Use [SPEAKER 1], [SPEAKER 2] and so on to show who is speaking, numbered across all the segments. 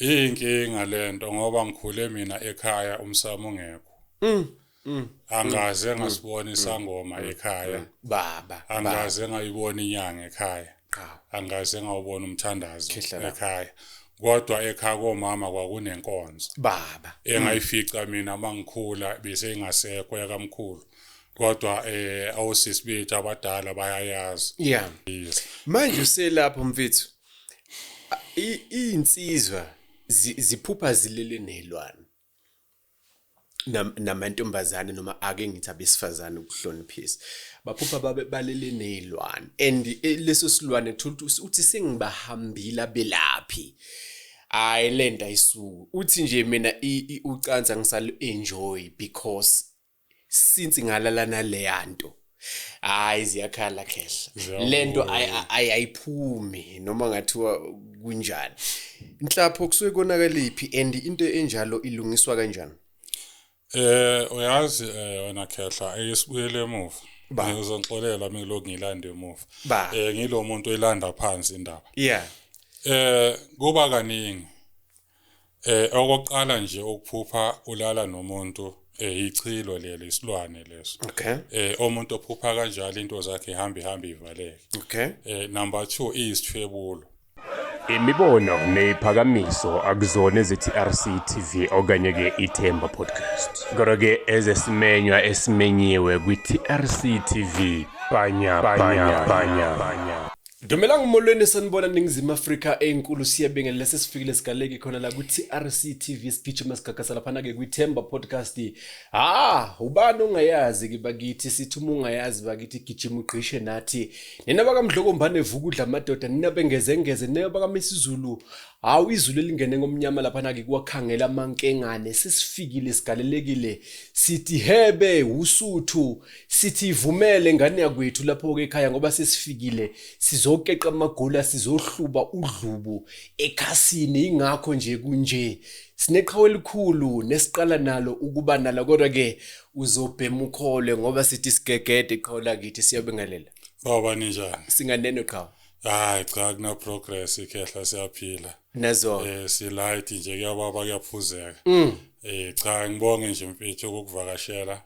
[SPEAKER 1] Iyinkinga lento ngoba ngikhule mina ekhaya umsamo ungekho. Mm. Mm. Angaze mm. ngasibona mm. isangoma mm. ekhaya. Baba.
[SPEAKER 2] Angaze ngayibona
[SPEAKER 1] inyanga ekhaya. Angaze ngawubona umthandazo ekhaya. Kodwa ekhaya komama kwakunenkonzo. Baba.
[SPEAKER 2] Engayifica mina
[SPEAKER 1] mangikhula bese ingasekho yakamkhulu. kodwa eh awusisi bethu abadala bayayazi yeah
[SPEAKER 2] manje uselapho mfethu iy'nsizwa ziphupha zilele ney'lwane namantombazane noma ake ngithi abesifazane ukuhloniphisa baphupha babe balele ney'lwane and eh, leso silwane thola ukuthi uthi sengibahambile abelaphi hayi le nto ayisuki uthi nje mina ucansa ngisali-enjoy because since ngalala naleya nto hayi ziyakhala khehla lento ayiphumi noma ngathiwa kunjani inhlapho kusuke konakaliphi and into enjalo ilungiswa kanjani eh uyazi
[SPEAKER 1] eh, wena khehla ayisibuyele emuva ngizonixolela mina lokhu ngilanda emuva eh ngilomuntu elanda phansi indaba yeah
[SPEAKER 2] eh
[SPEAKER 1] kuba kaningi Eh okokuqala nje ukuphupha ulala nomuntu eh ichilo leli isilwane leso. Okay. Eh umuntu
[SPEAKER 2] ophupha
[SPEAKER 1] kanjalo into zakhe ihamba ihamba ivaleke. Okay. Eh
[SPEAKER 2] number 2
[SPEAKER 1] iyisithwebulo. Imibono
[SPEAKER 3] neziphakamiso akuzona ezithi-RC TV okanye-ke iThemba Podcast. Kodwa-ke ezesimenywa esimenyiwe kwi-TRC TV. Bhanya, bhanya, bhanya, bhanya. Dumelang molweni
[SPEAKER 2] sanibona ningizimu Afrika enkulu siyabingelela sesifikile sigaleki khona la ku TRC TV sigijima sigagasa laphana ke kwi Themba podcast ha ubani ongayazi ke bakithi sithi uma ungayazi bakithi gijima ugqishe nathi nina baka Mdloko Mbane vuka udla amadoda nina bengeze ngeze nina baka Misizulu hawu izulu elingene ngomnyama laphana ke kwakhangela amankengane sesifikile sigalelekile sithi hebe usuthu sithi ivumele ngane yakwethu lapho-ke ekhaya ngoba sesifikile sizokeqa amagula sizohluba udlubu ekhasini ingakho nje kunje sineqhawe elikhulu nesiqala nalo ukuba nala kodwa-ke uzobhema ukhole ngoba sithi sigegede iqhawe lakithi siyabingelela baba ninjani
[SPEAKER 1] singaneno qhawe
[SPEAKER 2] hayi cha
[SPEAKER 1] kunaprogress ikhehla siyaphila nazo um eh,
[SPEAKER 2] silight nje
[SPEAKER 1] kuyababa kuyaphuzeka um cha ngibonge nje mfethu ukukuvakashela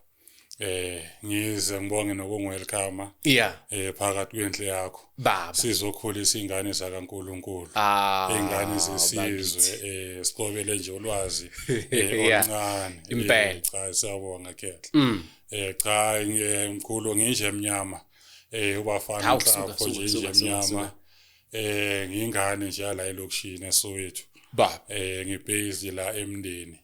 [SPEAKER 1] eh ngize ngibonge nokunguwelcome yeah eh
[SPEAKER 2] phakathi kwendle
[SPEAKER 1] yakho baba sizokhulisa
[SPEAKER 2] ingane
[SPEAKER 1] zakaNkuluNkulu ah ingane zesizwe eh siqobele nje ulwazi eh, oluncane eh, impela cha
[SPEAKER 2] siyabonga
[SPEAKER 1] khetha mm. eh cha ngimkhulu nginje emnyama eh ubafana mhlawumbe nje nje emnyama eh ngingane nje la elokishini eSoweto baba eh
[SPEAKER 2] ngibase
[SPEAKER 1] la emndeni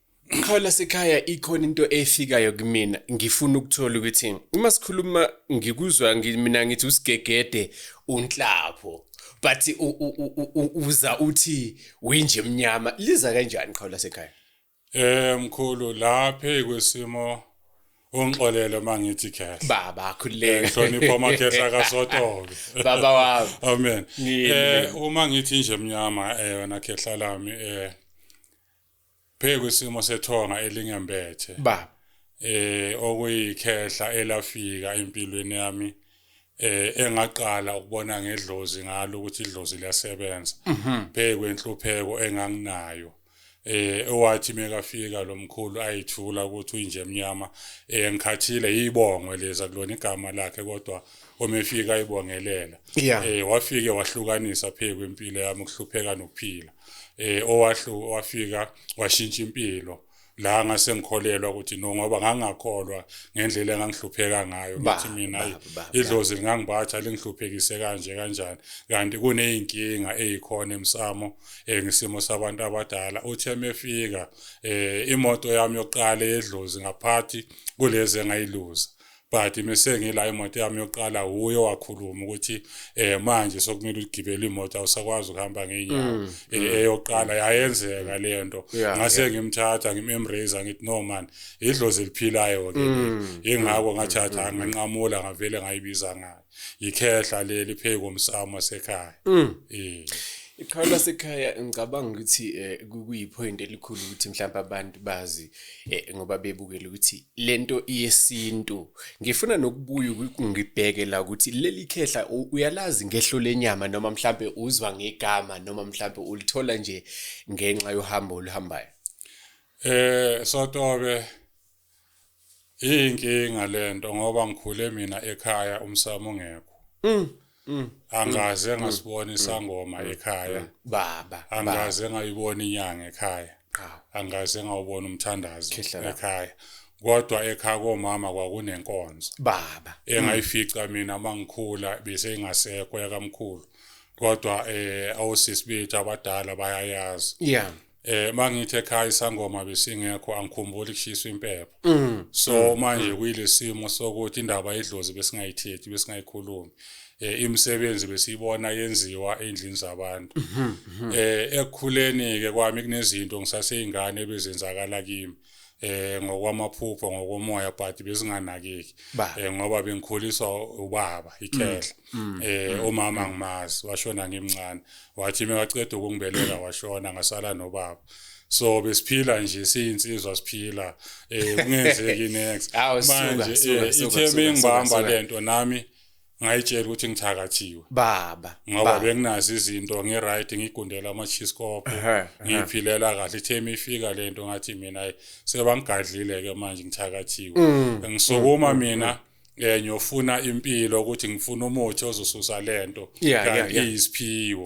[SPEAKER 1] Qhawe
[SPEAKER 2] lasekhaya ikhona into efikayo kumina ngifuna ukuthola ukuthi uma sikhuluma ngikuzwa mina ngithi usigegede unhlapho but uza uthi winje emnyama liza kanjani qhawe lasekhaya Eh mkhulu
[SPEAKER 1] laphe kwesimo ungixolele uma ngithi khehla baba akhuleke
[SPEAKER 2] ngihlonipha amakhehla
[SPEAKER 1] kasotobe baba wami
[SPEAKER 2] amen
[SPEAKER 1] eh uma ngithi nje mnyama eh wena khehla lami eh Bheka isimo sethonga elingembethe. Baba.
[SPEAKER 2] Eh okuyikhehla
[SPEAKER 1] elafika empilweni yami eh engaqala ukubona ngedlozi ngalo ukuthi idlozi liyasebenza. Mhm. Bheka kwenhlupheko enganginayo. eh owathi mekafika lomkhulu ayithula ukuthi uyinje emnyama eh ngikhathile yibongwe leza kulona igama lakhe kodwa omefika ayibongelela eh wafike wahlukanisa pheku impilo yami ukuhlupheka nokuphila eh owahlu wafika washintsha impilo la ngase ngikholelwa ukuthi no ngoba ngangakholwa ngendlela engangihlupheka ngayo ngithi mina idlozi lingangibatha lingihluphekise kanje kanjani kanti kuneyinkinga ezikhona emsamo eh, ngisimo sabantu abadala uthe mefika eh, imoto yami yokuqala edlozi ngaphathi kulezi engayiluza but mese ngila imoto yami yokuqala wuye wakhuluma ukuthi eh manje sokumele ugibele imoto awusakwazi ukuhamba ngeenyawo mm, eh, mm. eyokuqala yayenzeka le nto ngase ngimthatha ngimembrace ngithi no man idlozi eliphilayo ke ingako mm, ngathatha nganqamula ngavele ngayibiza ngayo yikhehla leli phezu komsamo wasekhaya mm. eh
[SPEAKER 2] ikhaya lasekhaya ngicabanga ukuthi eh, kuyipoint elikhulu ukuthi mhlawumbe abantu bazi eh, ngoba bebukele ukuthi lento iyesintu ngifuna nokubuya ngibheke la ukuthi leli khehla uyalazi ngehlo lenyama noma mhlawumbe uzwa ngegama noma mhlawumbe ulithola nje ngenxa yohambo oluhambayo eh sotobe
[SPEAKER 1] Iyinkinga lento ngoba ngikhule mina ekhaya umsamo ngekho. Mm. Mm. Angaze mm. ngasibona mm. isangoma mm. ekhaya. Mm. Baba.
[SPEAKER 2] Angaze ngayibona
[SPEAKER 1] inyanga ekhaya. Angaze ngawubona umthandazo ekhaya. Kodwa ekhaya komama kwakunenkonzo. Baba.
[SPEAKER 2] Engayifica mina
[SPEAKER 1] mangikhula bese ingasekho yakamkhulu. Kodwa eh awusisi bethu abadala bayayazi. Yeah. eh mangithi ekhaya isangoma besingekho angikhumbuli kushiswa impepho mm. so mm. manje mm. kuyilesimo sokuthi indaba yedlozi besingayithethi besingayikhulumi eh imisebenzi besiyibona yenziwa endlini zabantu mm-hmm, mm-hmm. eh ekukhuleni ke kwami kunezinto ngisaseyingane bezenzakala kimi eh ngokwamaphupho ngokomoya but besinganakeki eh ngoba bengikhuliswa ubaba ikhehla mm, mm, eh mm, umama ngimazi washona ngimncane wathi mewaqeda ukungibelela washona ngasala nobaba so besiphila nje siyinsizwa siphila eh kungenzeki next manje eh, itheme ngibamba lento nami ngayitshela ukuthi ngithakathiwe baba ngoba
[SPEAKER 2] benginazi
[SPEAKER 1] izinto ngi right ngigundela ama cheese cop ngiphilela kahle theme ifika lento ngathi mina sebangigadlile ke manje ngithakathiwe mm. ngisukuma mm, mm, mina eh ngiyofuna impilo ukuthi ngifuna umuthi ozosusa lento kanti isiphiwo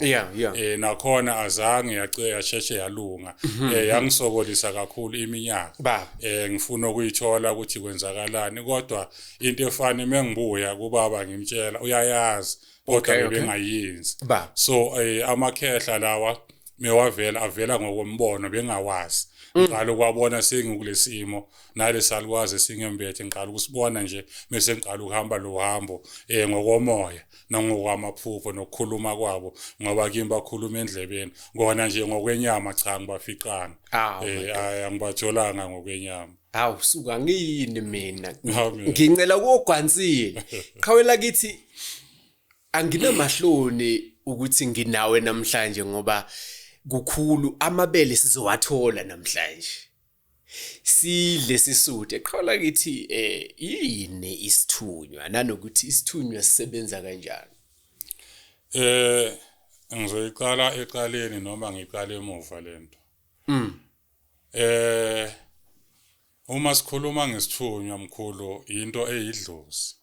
[SPEAKER 1] eh nakhona azange yacela yasheshe yalunga mhm, eh mhm. yangisokolisa kakhulu iminyaka eh ngifuna ukuyithola ukuthi kwenzakalani kodwa into efana mengibuya kubaba ngimtshela uyayazi kodwa bebengayenzi so eh, amakhehla lawa mewavela avela ngokombono bengawazi mm. ngiqala ukwabona sengikulesimo nale salukwazi singembethe ngiqala ukusibona nje mese ngiqala ukuhamba lo hambo um eh, ngokomoya nangokwamaphupho nokukhuluma kwabo ngoba kimi bakhuluma endlebeni kona nje ngokwenyama cha ngibafiqanga um angibatholanga ngokwenyama hawu suka
[SPEAKER 2] ngiyini mina ngincela kogwansile qhawela kithi anginamahloni ukuthi nginawe namhlanje ngoba kukhulu amabele sizowathola namhlanje sidle sisude qhawula kithi eh yini isithunywa nanokuthi isithunywa sisebenza kanjani eh
[SPEAKER 1] ngizoyiqala eqaleni noma ngiqale emuva lento mm Eh uma sikhuluma ngesithunywa mkhulu into eyidlozi.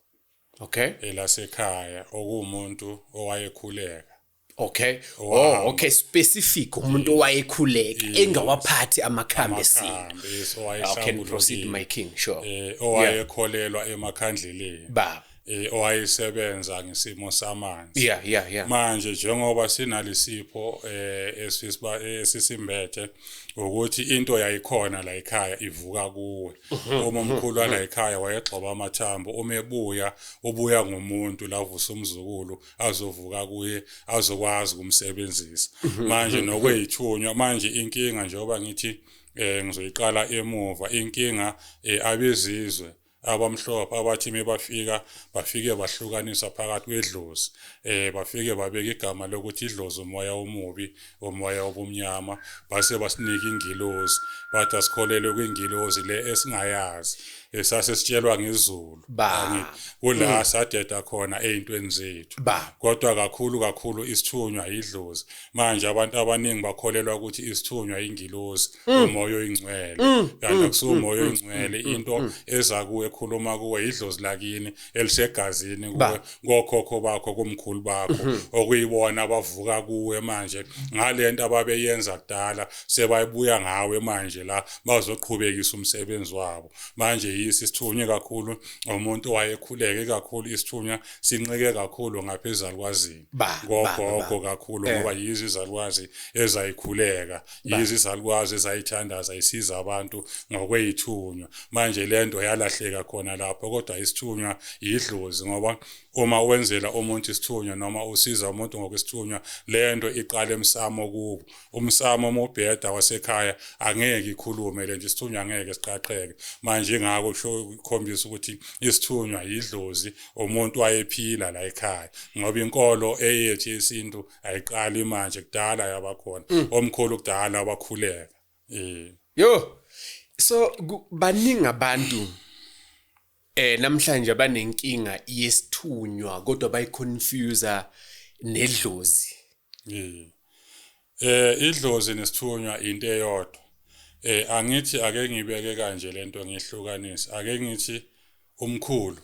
[SPEAKER 1] Okay. Elasekhaya okuwumuntu owayekhuleka. Okay.
[SPEAKER 2] Oh, okay specific umuntu owayekhuleka engawaphathi amakhambi esintu. Yes, owayehlambulukile. Okay, proceed my king, sure. Eh owayekholelwa
[SPEAKER 1] emakhandleleni. Baba. eh, owayesebenza ngesimo samanzi yeah yeah yeah manje njengoba sinalisipho eh esisiba esisimbethe ukuthi into yayikhona la ekhaya ivuka kuwe mhm, uma mhm, umkhulu wala mhm. ekhaya wayegxoba amathambo uma ebuya ubuya ngomuntu lavusa umzukulu azovuka kuye azokwazi kumsebenzisa manje nokweyithunywa manje inkinga njengoba ngithi eh ngizoyiqala emuva inkinga eh, abezizwe abamhlophe abathi mebafika bafike bahlukanisa phakathi kwedlozi eh bafike babeka igama lokuthi idlozi umoya omubi umoya obumnyama base basinika ingilozi bathi asikholelwe kwingilozi le esingayazi esase sitshelwa ngezulu kula mm. sadeda khona ezintweni zethu kodwa kakhulu kakhulu isithunywa yidlozi manje abantu abaningi bakholelwa ukuthi isithunywa ingilozi mm. umoya oyingcwele mm. kanti mm. akusuka umoya oyingcwele into eza kuwe ekhuluma kuwe yidlozi lakini elisegazini kuwe ngokhokho bakho kumkhulu bakho mm-hmm. okuyibona abavuka kuwe manje ngalento ababeyenza kudala sebayibuya ngawe manje la bazoqhubekisa umsebenzi wabo manje yisi sithunywe kakhulu umuntu wayekhuleke kakhulu isithunywa sinxike kakhulu ngaphezulu kwazini ngogogo kakhulu eh. ngoba yizi izalukwazi ezayikhuleka yizo izalukwazi ezayithandaza isiza abantu ngokweyithunywa manje le nto yalahleka khona lapho kodwa isithunywa yidlozi ngoba uma wenzela umuntu isithunywa noma usiza umuntu ngokwesithunywa le nto iqala emsamo kubo umsamo uma ubheda wasekhaya angeke ikhulume le nto isithunywa angeke siqaqheke manje ngako kusho ukhombisa ukuthi isithunywa yidlozi umuntu wayephila la ekhaya ngoba inkolo eyethi yesintu ayiqali manje kudala yabakhona mm. omkhulu kudala wakhuleka eh yo
[SPEAKER 2] so baningi abantu eh namhlanje abanenkinga yesithunywa kodwa bayiconfuser nedlozi mm.
[SPEAKER 1] eh idlozi nesithunywa into eyodwa eh angithi ake ngibeke kanje lento ngihlukanise ake ngithi umkhulu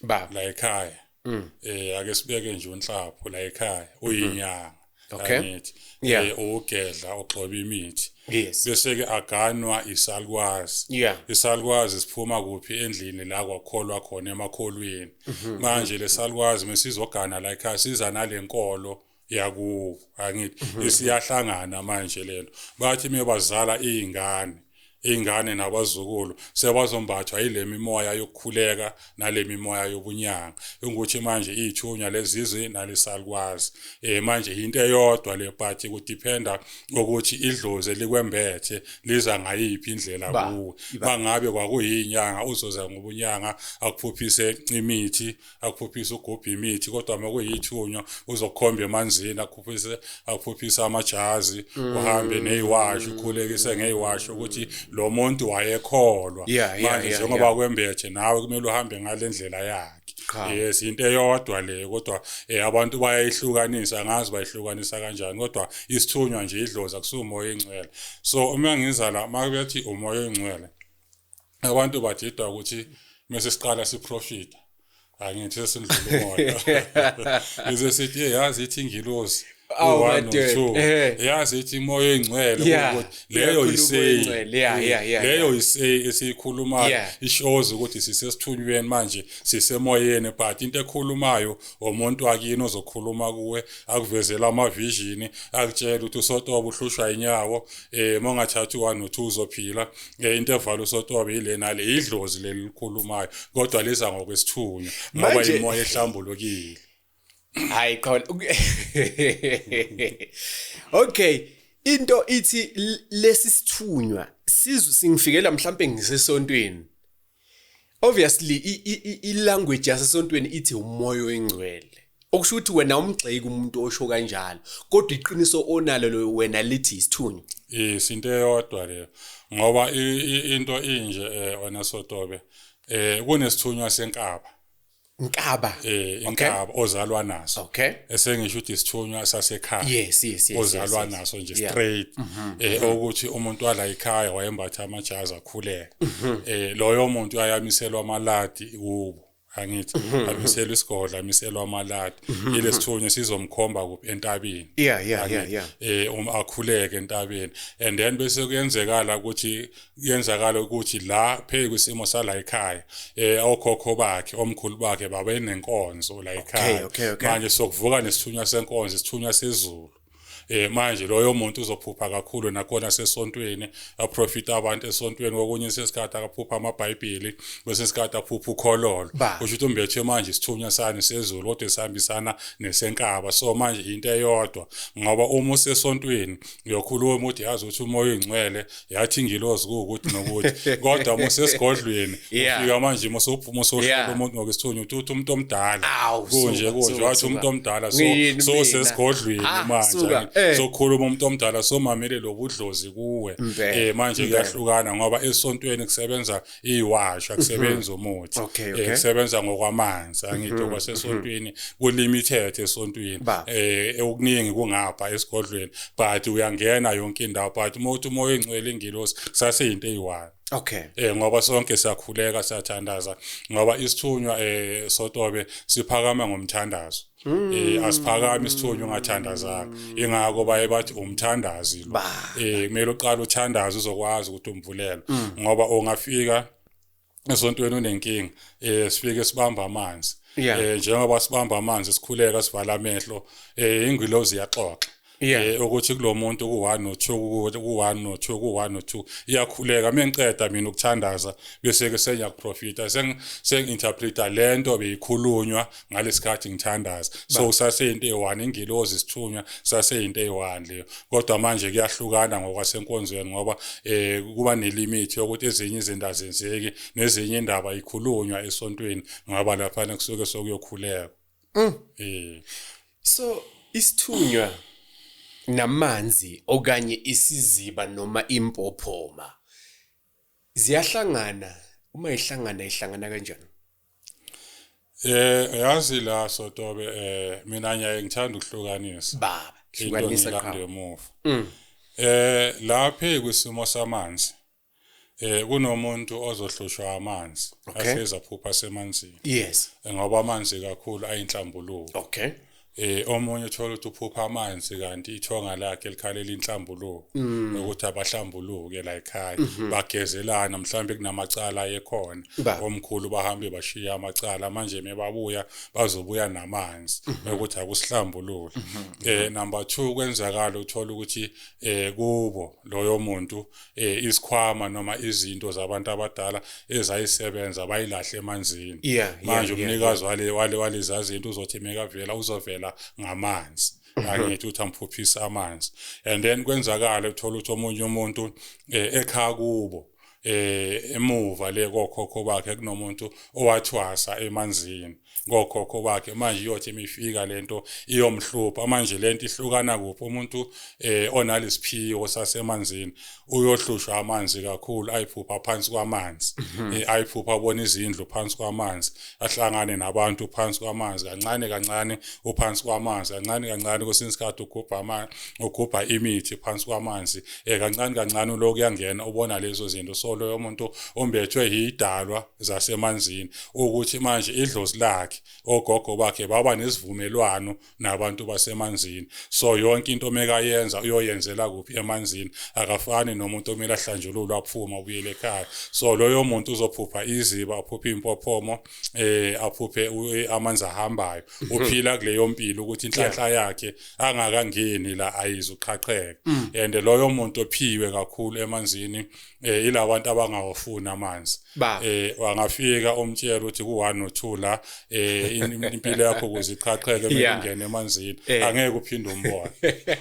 [SPEAKER 1] ba la ekhaya mm. eh ake sibeke nje unhlapho la ekhaya mm-hmm. uyinyanga okay angithi yeah. eh ugedla ogxoba imithi yes bese ke aganwa isalukwazi yeah isalukwazi siphuma kuphi endlini la kwakholwa khona emakholweni mm-hmm. manje lesalukwazi mesizogana la ekhaya siza nalenkolo mm -hmm. yakubo angithi mhm. isiyahlangana manje lento bathi mebazala izingane izingane nabazukulu sebazombathwa yilemi moya yokukhuleka nalemi moya yobunyanga ukuthi manje izithunywa lezizwe nalisalukwazi eh manje into eyodwa le party ku dependa ukuthi idlozi likwembethe liza ngayiphi indlela kuwe bangabe kwakuyinyanga uzoza ngobunyanga akuphuphise imithi akuphuphise ugubhe imithi kodwa uma kuyithunywa uzokhomba emanzini akuphuphise akuphuphise amajazi mm. uhambe neyiwasho ukhulekise ngeyiwasho ukuthi lo muntu wayekholwa manje njengoba kwembethe nawe kumele uhambe ngale ndlela yakhe yes into eyodwa le kodwa eh, abantu bayayihlukanisa angazi bayihlukanisa kanjani kodwa isithunywa nje idlozi akusumoya ingcwele so uma ngizala makuthi umoya oyingcwele abantu badidwa ukuthi mase siqala siprofita angithi sesindlula umoya ize sithi yazi ithi ingilosi Eh. yazi ithi imoya engcwele leyo yiseyileyo yiseyi esiyikhulumayo ishows ukuthi sisesithunyweni manje sisemoyeni but into ekhulumayo omuntu akini ozokhuluma kuwe akuvezela amavishini akutshela ukuthi usotoba uhlushwa inyawo um eh, mongathathi one no-two uzophila nge interval usotobe yilena le idlozi lelikhulumayo kodwa liza ngokwesithunywa ngoba imoya ehlambulukile hayi
[SPEAKER 2] khona okay into ithi lesi sithunywa sizu singifikela mhlambe ngisesontweni obviously ilanguage yasesontweni ithi umoya oyingcwele okusho ukuthi wena umgxeki umuntu osho kanjalo kodwa iqiniso onalo lo wena lithi isithunywa yes into
[SPEAKER 1] eyodwa leyo ngoba into inje eh, wena sotobe eh kunesithunywa senkaba Nkaba. Eh inkaba okay. ozalwa naso. Okay. Esengisho ukuthi isithunywa sasekhaya. Yes, yes, yes. Ozalwa
[SPEAKER 2] yes, yes. naso nje
[SPEAKER 1] yeah. straight. Mm -hmm. Eh mhm. ukuthi umuntu wala ekhaya wayembatha amajazi akhuleka. Mm -hmm. Eh loyo muntu ayamiselwa amaladi kubo. angithi mm -hmm. amiselwa isigodla amiselwa amaladi mm -hmm. ilesithunywa sizomkhomba kuphi entabeni yeah yeah yeah yeah eh um akhuleke entabeni and then bese kuyenzekala ukuthi kuyenzakala ukuthi la phezu kwisimo sala ekhaya eh okhokho bakhe omkhulu bakhe babenenkonzo la ekhaya manje sokuvuka nesithunywa senkonzo isithunywa sezulu eh manje loyo muntu uzophupha kakhulu nakona sesontweni aprofita abantu esontweni kokunye isikhathi akaphupha amabhayibheli bese isikhathi aphupha ukhololo kusho ukuthi umbethe manje isithunywa sani sezulu kodwa esihambisana nesenkaba so manje into eyodwa ngoba uma usesontweni uyokhuluma uthi yazi ukuthi umoya oyingcwele yathi ingilozi kuwukuthi nokuthi kodwa musesigodlweni ufika manje musophuma sohlola umuntu ngokwesithunywa uthi uthi umuntu omdala kunje kunje wathi umuntu omdala so so sesigodlweni ah, manje eh. sokhuluma umuntu omdala somamele lobudlozi kuwe eh manje kuyahlukana ngoba esontweni kusebenza iwash akusebenzi mhm. umuthi okay, okay. kusebenza ngokwamanzi angithi mhm, kwasesontweni mhm. kulimited esontweni eh okuningi kungapha esigodlweni but uyangena yonke indawo but uma uthi umoya engcwele ingilosi saseyinto eyiwani Okay. Eh ngoba sonke siyakhuleka siyathandaza ngoba isithunywa eh sotobe siphakama ngomthandazo. Mm. Eh asiphakami isithunywa ungathandazanga. Ingakho baye bathi umthandazi lo. Eh kumele uqale uthandaze uzokwazi ukuthi umvulelo mm. ngoba ongafika esontweni unenkinga eh sifike sibamba amanzi. Eh njengoba
[SPEAKER 2] sibamba amanzi
[SPEAKER 1] sikhuleka sivala amehlo eh ingilozi iyaxoxa. yeah. eh, ukuthi
[SPEAKER 2] kulo muntu
[SPEAKER 1] ku-one no two ku-one no two ku-one no two iyakhuleka uma ngiceda mina ukuthandaza bese-ke sengiyakuprofita sengi-interpreta le nto beyikhulunywa ngalesi khathi ngithandaza so kusaseyinto eyi-one ingilozi isithunywa kusaseyinto eyi-one leyo kodwa manje kuyahlukana ngokwasenkonzweni ngoba um kuba nelimithi yokuthi ezinye izinto azenzeki nezinye indaba ikhulunywa esontweni ngoba laphana kusuke sokuyokhuleka Mm.
[SPEAKER 2] Mm. So isithunywa namanzi okanye isiziba noma impophoma ziyahlangana uma ihlangana ihlangana kanjani Eh
[SPEAKER 1] yazi la sotobe eh mina ngiyaye ngithanda ukuhlukanisa baba into hlukanisa
[SPEAKER 2] ngilande qhawe emuva. Mm.
[SPEAKER 1] Eh laphe kwisimo samanzi eh kunomuntu ozohlushwa amanzi Okay. ahleza phupha semanzini yes Eh, ngoba
[SPEAKER 2] amanzi
[SPEAKER 1] kakhulu ayinhlambuluko okay
[SPEAKER 2] eh omunye
[SPEAKER 1] uthola ukuthi uphupha amanzi kanti ithonga lakhe likhalela inhlambuluko Mm. nokuthi abahlambuluke la ekhaya Mhm. bagezelana mhlawumbe kunamacala ayekhona Ba. omkhulu bahambe bashiya amacala manje mebabuya bazobuya namanzi Mhm. ukuthi akusihlambulule eh number 2 kwenzakala uthola ukuthi eh kubo loyo muntu eh isikhwama noma izinto zabantu abadala ezayisebenza bayilahle emanzini yeah, manje yeah, umnikazi yeah, wale wale walezazi into uzothi mekavela uzovela ngamanzi mhm. angithi uthi amphuphisa amanzi and then kwenzakala uthola ukuthi omunye umuntu eh, ekhaya kubo eh emuva le kokhokho bakhe kunomuntu owathwasa emanzini ngokhokho bakhe manje iyothi imifika lento iyomhlupha manje lento ihlukana kuphi umuntu eh onalisiphiwo sasemanzini uyohlushwa amanzi kakhulu ayiphupha phansi kwamanzi mhm. eh, ayiphupha abona izindlu phansi kwamanzi ahlangane nabantu phansi kwamanzi kancane kancane uphansi kwamanzi kancane kancane kwesinye isikhathi ugubha amanzi ugubha imithi phansi kwamanzi eh kancane kancane uloku yangena ubona lezo zinto so loyo muntu ombethwe yidalwa zasemanzini ukuthi manje idlozi lakhe ogogo bakhe baba nesivumelwano nabantu basemanzini so yonke into mekayenza uyoyenzela kuphi emanzini akafani nomuntu omele ahlanjululwa aphuma ubuyele ekhaya so loyo muntu uzophupha iziba aphuphe impophomo eh aphuphe eh, amanzi ahambayo mhm. uphila kuleyo mpilo ukuthi inhlanhla yakhe angakangeni la ayizuqhaqheka mm. and loyo muntu ophiwe kakhulu emanzini eh ilabantu abangawafuni amanzi eh wangafika umtshela ukuthi ku 1 no 2 la eh impilo yakho kuziqhaqheke mengene emanzini eh. angeke uphinde umbone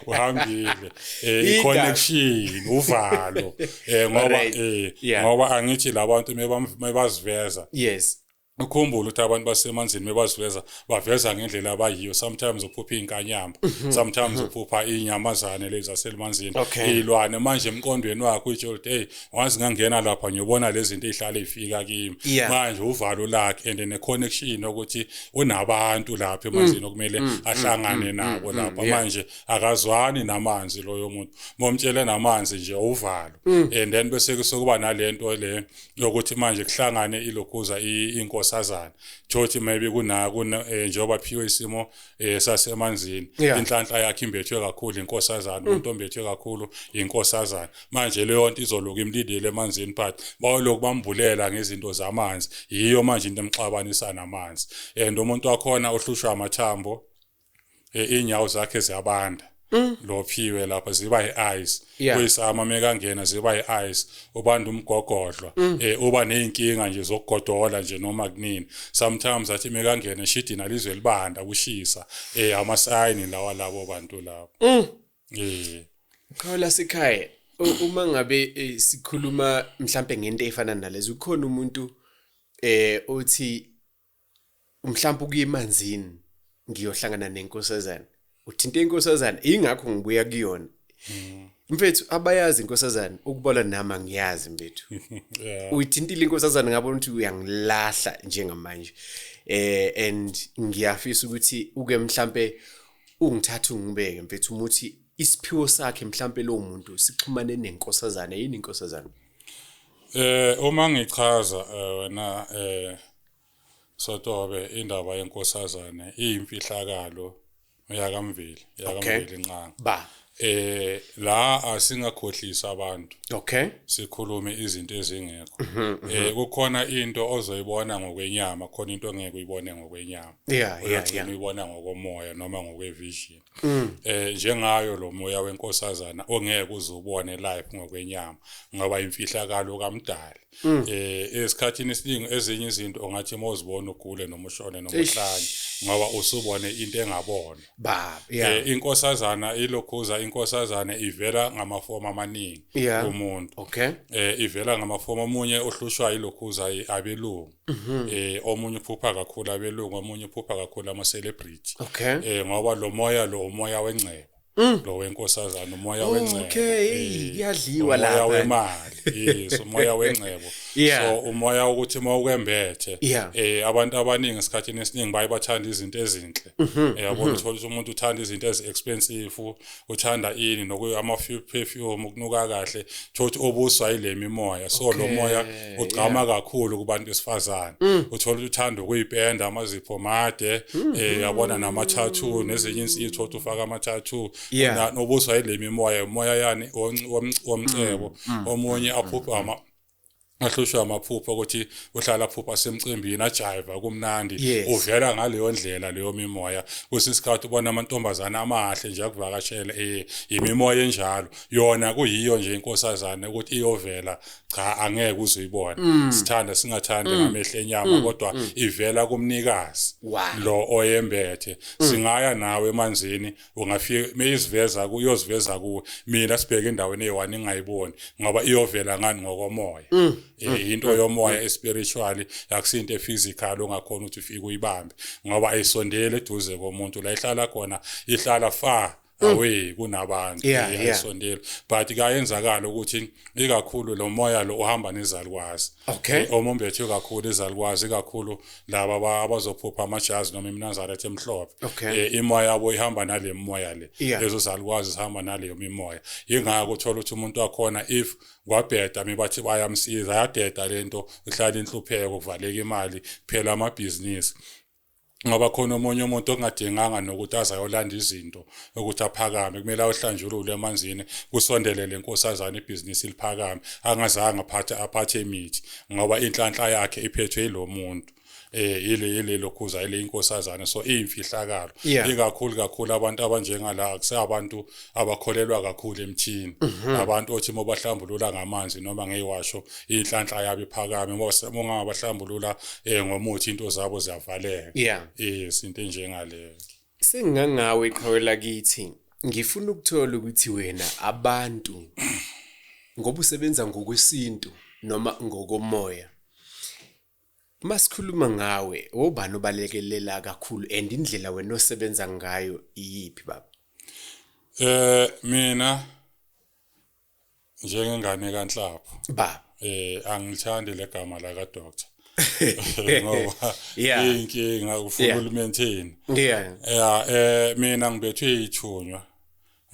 [SPEAKER 1] uhambile eh connection uvalo eh ngoba eh ngoba angithi labantu mebaziveza yes
[SPEAKER 2] ukhumbule ukuthi
[SPEAKER 1] abantu basemanzini bebaziveza baveza ngendlela abayiyo sometimes uphupha inkanyamba mhm. sometimes mhm. uphupha inyamazane lezi zaselmanzini ilwane manje emqondweni wakho utsho ukuthi hey wazi ngangena lapha ngiyobona lezi zinto ezihlale ifika kimi manje uvalo lakhe and ne connection ukuthi unabantu lapha emanzini mm. okumele mm. Mm. ahlangane nabo lapha manje akazwani namanzi loyo muntu momtshele namanzi nje uvalo and then bese kusokuba nalento le lokuthi manje kuhlangane ilokhuza inkosazana thothi maybe kuna kuna eh, njengoba phiwe isimo eh, sasemanzini inhlanhla yakhe imbethwe kakhulu inkosazana mm. umuntu ombethwe kakhulu inkosazana manje leyo nto izoloku imlindile emanzini but bawoloku bambulela ngezinto zamanzi yiyo manje into emxabanisa namanzi and umuntu wakhona uhlushwa amathambo eh, inyawo zakhe ziyabanda mm. lophiwe lapha ziba yi-ice yeah. kuyisama mekangena ziba yi-ice ubanda umgogodlwa mm. eh, uba ney'nkinga nje zokugodola nje noma kunini sometimes athi mekangena eshidina lizwe libanda kushisa eh, amasayini lawa labo bantu labo mm. eh.
[SPEAKER 2] khola sikhaya uma ngabe eh, sikhuluma mhlampe ngento efana nalezo ukhona umuntu eh othi mhlawumbe ukuya emanzini ngiyohlangana nenkosazana uthinte inkosazana ingakho ngibuya kuyona hmm. mfethu abayazi inkosazana ukubola nama ngiyazi mfethu uyithintile inkosazana ngabona ukuthi uyangilahla njengamanje eh and ngiyafisa ukuthi uke mhlambe ungithatha ungibeke mfethu umuthi isiphiwo sakhe mhlambe lo muntu sixhumane nenkosazana yini inkosazana Eh
[SPEAKER 1] uma ngichaza eh, wena eh Sotobe indaba yenkosazane iyimfihlakalo yakamveli yakamveli nqanga. Ba. Eh la asingakhohlisa abantu. Okay.
[SPEAKER 2] Sikhulume izinto
[SPEAKER 1] ezingekho. Mhm, mhm. Eh kukhona into ozoyibona ngokwenyama, khona into ongeke uyibone ngokwenyama. Yeah, yeah, yeah.
[SPEAKER 2] Uyibona
[SPEAKER 1] ngokomoya noma ngokwevision. Mm. eh njengayo lo moya wenkosazana ongeke uzubone live ngokwenyama ngoba imfihlakalo kamdali mm. eh esikhathini esiningi ezinye izinto ongathi uma uzibona ugule noma ushone noma uhlanye ngoba usubone into engabona baba yeah. eh inkosazana ilokhuza inkosazana ivela ngamafomu amaningi yeah. umuntu okay eh
[SPEAKER 2] ivela ngamafomu
[SPEAKER 1] omunye ohlushwa ilokhuza abelungu Mhm. eh omunye uphupha kakhulu abelungu omunye uphupha kakhulu ama celebrity Okay. eh ngoba
[SPEAKER 2] lo moya lo
[SPEAKER 1] umoya wengcebo Mm. lo wenkosazana umoya Oh, wengcebo okay. eh, Kuyadliwa
[SPEAKER 2] umoya lapha. wemali
[SPEAKER 1] yes umoya wengcebo Yeah. so umoya ukuthi uma ukwembethe Yeah. eh abantu abaningi esikhathini esiningi baye bathanda izinto ezinhle Mhm, yabo mhm. uthola ukuthi umuntu uthanda izinto ezi-expensive uthanda ini nokuama-perfume ukunuka kahle thola ukuthi obuswa yile mimoya so lo moya ugqama kakhulu kubantu besifazane mm. uthola ukuthi uthanda ukuyipenda amazipho made um yabona nama-tattoo nezinye insitho thola ukuthi ufake ama-tattoo nobuswa yile mimoya umoya yani womcebo mm, omunye aphuphe ahlushwa amaphupho ukuthi uhlala phupha semcimbini ajayiva kumnandi uvela ngaleyo ndlela leyo mimoya kwesinye isikhathi ubona amantombazane amahle nje akuvakashele eh, yimimoya enjalo yona kuyiyo nje inkosazane ukuthi iyovela cha angeke uzoyibona mm. sithanda singathandi mm. ngamehlo enyama mm. kodwa ivela kumnikazi lo oyembethe singaya nawe emanzini ungafike meyiziveza ku iyoziveza ku mina sibheke endaweni eyiwani ingayiboni ngoba iyovela ngani ngokomoya mm. eh, mm. into mm. yomoya espiritual akusinto ephysical ongakhona ukuthi ufike uyibambe ngoba ayisondele eduze komuntu la ihlala khona ihlala far away kunabantu yasondela but kayenzakala ukuthi ikakhulu lo moya lo uhamba nezalukwazi okay eh, omombethe kakhulu izalukwazi kakhulu laba aba- abazophupha amajazi noma iminazaretha emhlophe Okay. Eh, imoya yabo ihamba nale moya le Yeah. lezo zalukwazi zihamba naleyo mimoya yingakho uthola ukuthi umuntu wakhona if kwabheda mibathi bayamsiza yadeda lento ihlala inhlupheko kuvaleka imali phela amabhizinisi ngoba khona omunye umuntu ongadinganga nokuthi azayolanda izinto ukuthi aphakame kumele awuhlanjulule emanzini kusondele lenkosazana ibhizinisi liphakame angazange aphathe aphathe imithi ngoba inhlanhla yakhe iphethwe yilomuntu eh yile yile lokhuza ile inkosazana so imfihlakalo ikakhulu kakhulu abantu abanjengala akusabantu abakholelwa kakhulu emthini mhm. abantu othi mobahlambulula ngamanzi noma ngeyiwasho inhlanhla yabo iphakame mongabahlambulula eh ngomuthi into zabo ziyavaleka yes into enjengaleyo Sengingangawe
[SPEAKER 2] qhawe lakithi ngifuna ukuthola ukuthi wena abantu ngoba usebenza ngokwesintu noma ngokomoya masikhuluma ngawe wobani obalekelela kakhulu and indlela wena osebenza ngayo iyiphi baba eh mina
[SPEAKER 1] njengengane kanhlapho ba eh
[SPEAKER 2] angilithandi
[SPEAKER 1] legama la ka doctor ngoba yeah. inkinga ufuna yeah. ulimaintain yeah. yeah, eh mina ngibethwe ithunywa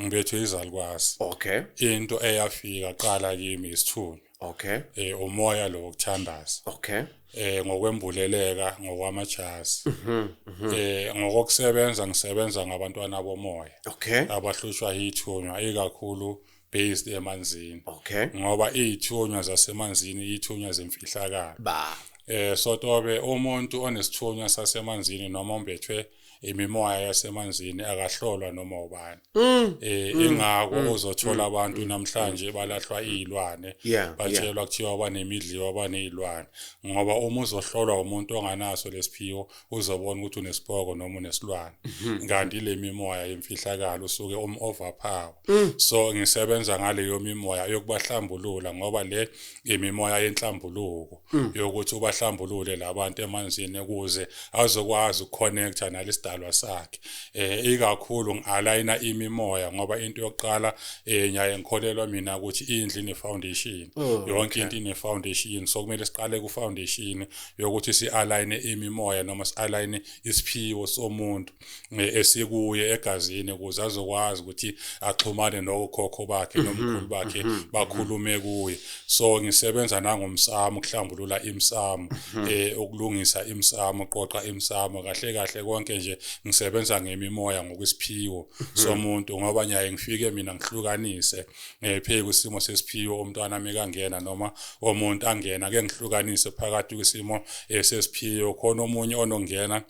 [SPEAKER 1] ngibethwe izalukwazi okay into eyafika qala kimi isithunywa okay eh umoya lo wokuthandaza okay eh ngokwembuleleka ngokwamajazi mhm, mhm. eh ngokusebenza ngisebenza ngabantwana bomoya okay abahlushwa yithunywa ikakhulu based emanzini okay ngoba izithunywa zasemanzini izithunywa zemfihlakalo ba eh sotobe umuntu onesithunywa sasemanzini noma ombethwe imimoya yasemanzini akahlolwa noma ubani mm. eh mm. ingako mm. uzothola abantu namhlanje balahlwa izilwane batshelwa kuthiwa banemidliwa banezilwane ngoba uma uzohlolwa umuntu onganaso lesiphiwo uzobona ukuthi unesipoko noma unesilwane mm-hmm. kanti le mimoya yemfihlakalo usuke um overpower so ngisebenza ngaleyo mimoya yokubahlambulula ngoba le imimoya yenhlambuluko hmm. yokuthi ubahlambulule labantu emanzini ukuze azokwazi ukuconnecta nalesidalwa sakhe eh ikakhulu ngialigna imimoya ngoba into yokuqala eh nyaye ngikholelwa mina ukuthi indlu ine foundation oh, yonke into ine foundation so kumele siqale ku foundation yokuthi si align imimoya noma si align isiphiwo somuntu eh, esikuye egazini ukuze azokwazi ukuthi axhumane nokhokho bakhe mhm, nomkhulu bakhe mhm, mhm. bakhulume kuye so ngisebenza nangomsamo ukuhlambulula imsamo eh ukulungisa imsamo qoqa imsamo kahle kahle konke nje ngisebenza ngemimoya ngokwesiphiwo somuntu ngoba nyaye ngifike mina ngihlukanise ngephe eh, kusimo sesiphiwo umntwana mekangena noma omuntu angena ke ngihlukanise phakathi kusimo eh, sesiphiwo khona omunye onongena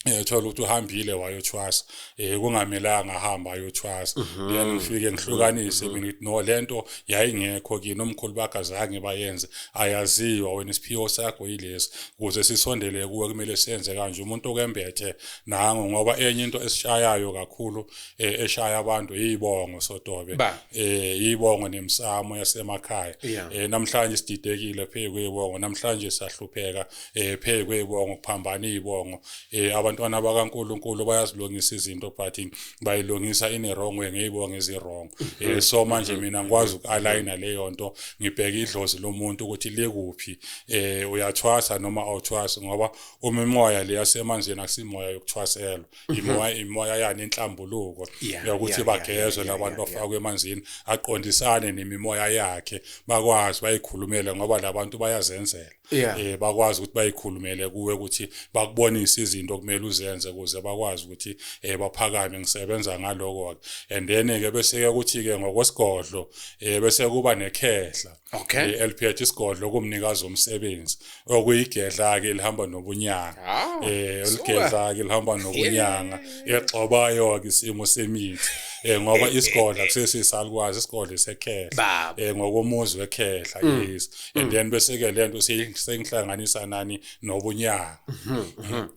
[SPEAKER 1] ethola ukuthi uhambile wayothwasa eh kungamelanga ahamba ayothwasa mhm. yena ngifike ngihlukanise mina ngithi no lento yayingekho kini omkhulu bakhe azange bayenze ayaziwa wena isiphiwo sakho yilesi kuze sisondele kuwe kumele senze kanje umuntu okembethe nango ngoba enye into esishayayo kakhulu eh, eshaya abantu yibongo sotobe eh yibongo nemsamo yasemakhaya eh namhlanje sididekile phezu kwebongo namhlanje sahlupheka eh phekwe ibongo kuphambana ibongo eh abantwana bakaNkuluNkulu bayazilungisa izinto but bayilungisa in a wrong way ngeyibongo ezirong eh so manje mina ngikwazi ukualigna leyo nto ngibheke idlozi lomuntu ukuthi likuphi eh uyathwasa noma awuthwasi ngoba uma imoya le yasemanzini akusimoya yokuthwaselwa mhm. imoya imoya yani inhlambuluko yokuthi bagezwe labantu bafakwe emanzini aqondisane nemimoya yakhe bakwazi bayikhulumele ngoba labantu bayazenzela yeah. eh bakwazi ukuthi bayikhulumele kuwe ukuthi bakubonise izinto okumele uzenze ukuze bakwazi ukuthi eh baphakame ngisebenza ngaloko and then ke bese ke ukuthi ke ngokwesigodlo eh bese kuba nekhehla okay eh, eliphethe isigodlo kumnikazi omsebenzi okuyigedla ke lihamba nobunyanga ah, eh ligedla ke lihamba nobunyanga exobayo ke isimo semithi eh ngoba isigodla kusesisalukwazi isigodlo sekhehla eh ngokomuzi wekhehla mm. yes and mm. then bese ke lento sengihlanganisa nani nobunyanga mhm, mhm.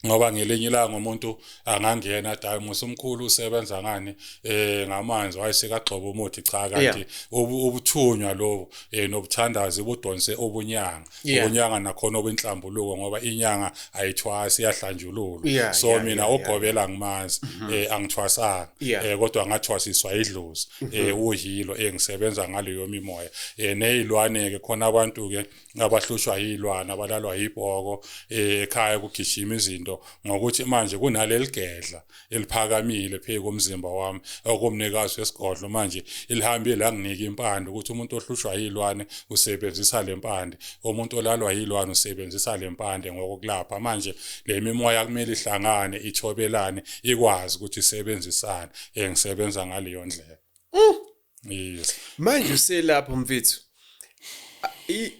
[SPEAKER 1] ngoba ngelinye ilanga umuntu angangena dai musa umkhulu usebenza ngani eh ngamanzi wayesekagxoba umuthi cha kanti ubuthunywa lobo eh nobuthandazi budonse obunyanga obunyanga nakhona obenhlambuluko ngoba inyanga ayithwasi iyahlanjululwa yeah, so yeah, mina yeah, ogobela yeah. ngimazi mm -hmm. eh angithwasanga yeah. eh kodwa ngathwasiswa idlozi mm -hmm. eh uhilo engisebenza eh, ngaleyo mimoya eh nezilwane ke khona abantu ke abahlushwa yilwana abalalwa yibhoko eh ekhaya kugijima izinto ngokuthi manje kunaleligedla eliphakamile phezu komzimba wami okomnikazi wesigodlo manje elihambe langinika impande ukuthi umuntu ohlushwa yilwane usebenzisa le mpande umuntu olalwa yilwane usebenzisa le mpande ngokokulapha manje le mimoya kumele ihlangane ithobelane ikwazi ukuthi isebenzisane engisebenza ngaleyo ndlela mm. yes manje
[SPEAKER 2] uselapho mfethu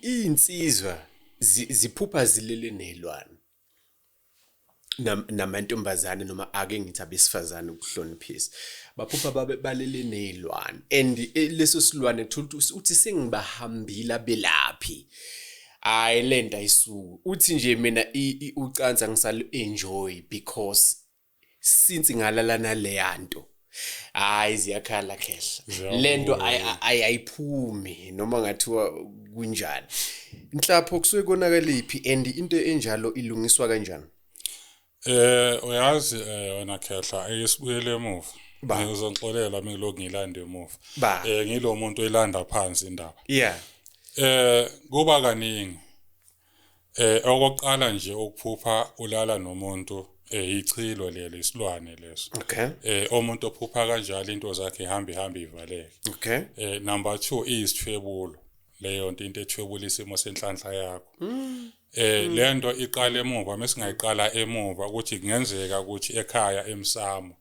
[SPEAKER 2] insizwa ziphupha zilele nezilwane namantombazane noma ake ngithi abesifazane ukuhloniphisa baphupha babe balele nezilwane and eh, leso silwane thola uthi sengibahambile abelaphi hayi lento ayisuku uthi nje mina ucansa ngisalo enjoy because since ngalala naleya nto hayi ziyakhala khehla lento ayiphumi noma ngathiwa kunjani inhlapho kusuke konakaliphi and into enjalo ilungiswa kanjani eh uyazi
[SPEAKER 1] eh, wena khehla ayisibuyele emuva ngizonixolela mina lokhu ngilanda emuva eh ngilomuntu elanda phansi indaba yeah eh kuba kaningi Eh okokuqala nje ukuphupha ulala nomuntu eh ichilo leli isilwane leso. Okay. Eh umuntu ophupha kanjalo into zakhe ihamba ihamba ivaleke. Okay. Eh number 2 iyisithwebulo. Leyo nto into ethwebula isimo senhlanhla yakho. Mm. Eh mm. lento iqala emuva mesingayiqala emuva ukuthi kungenzeka ukuthi ekhaya emsamo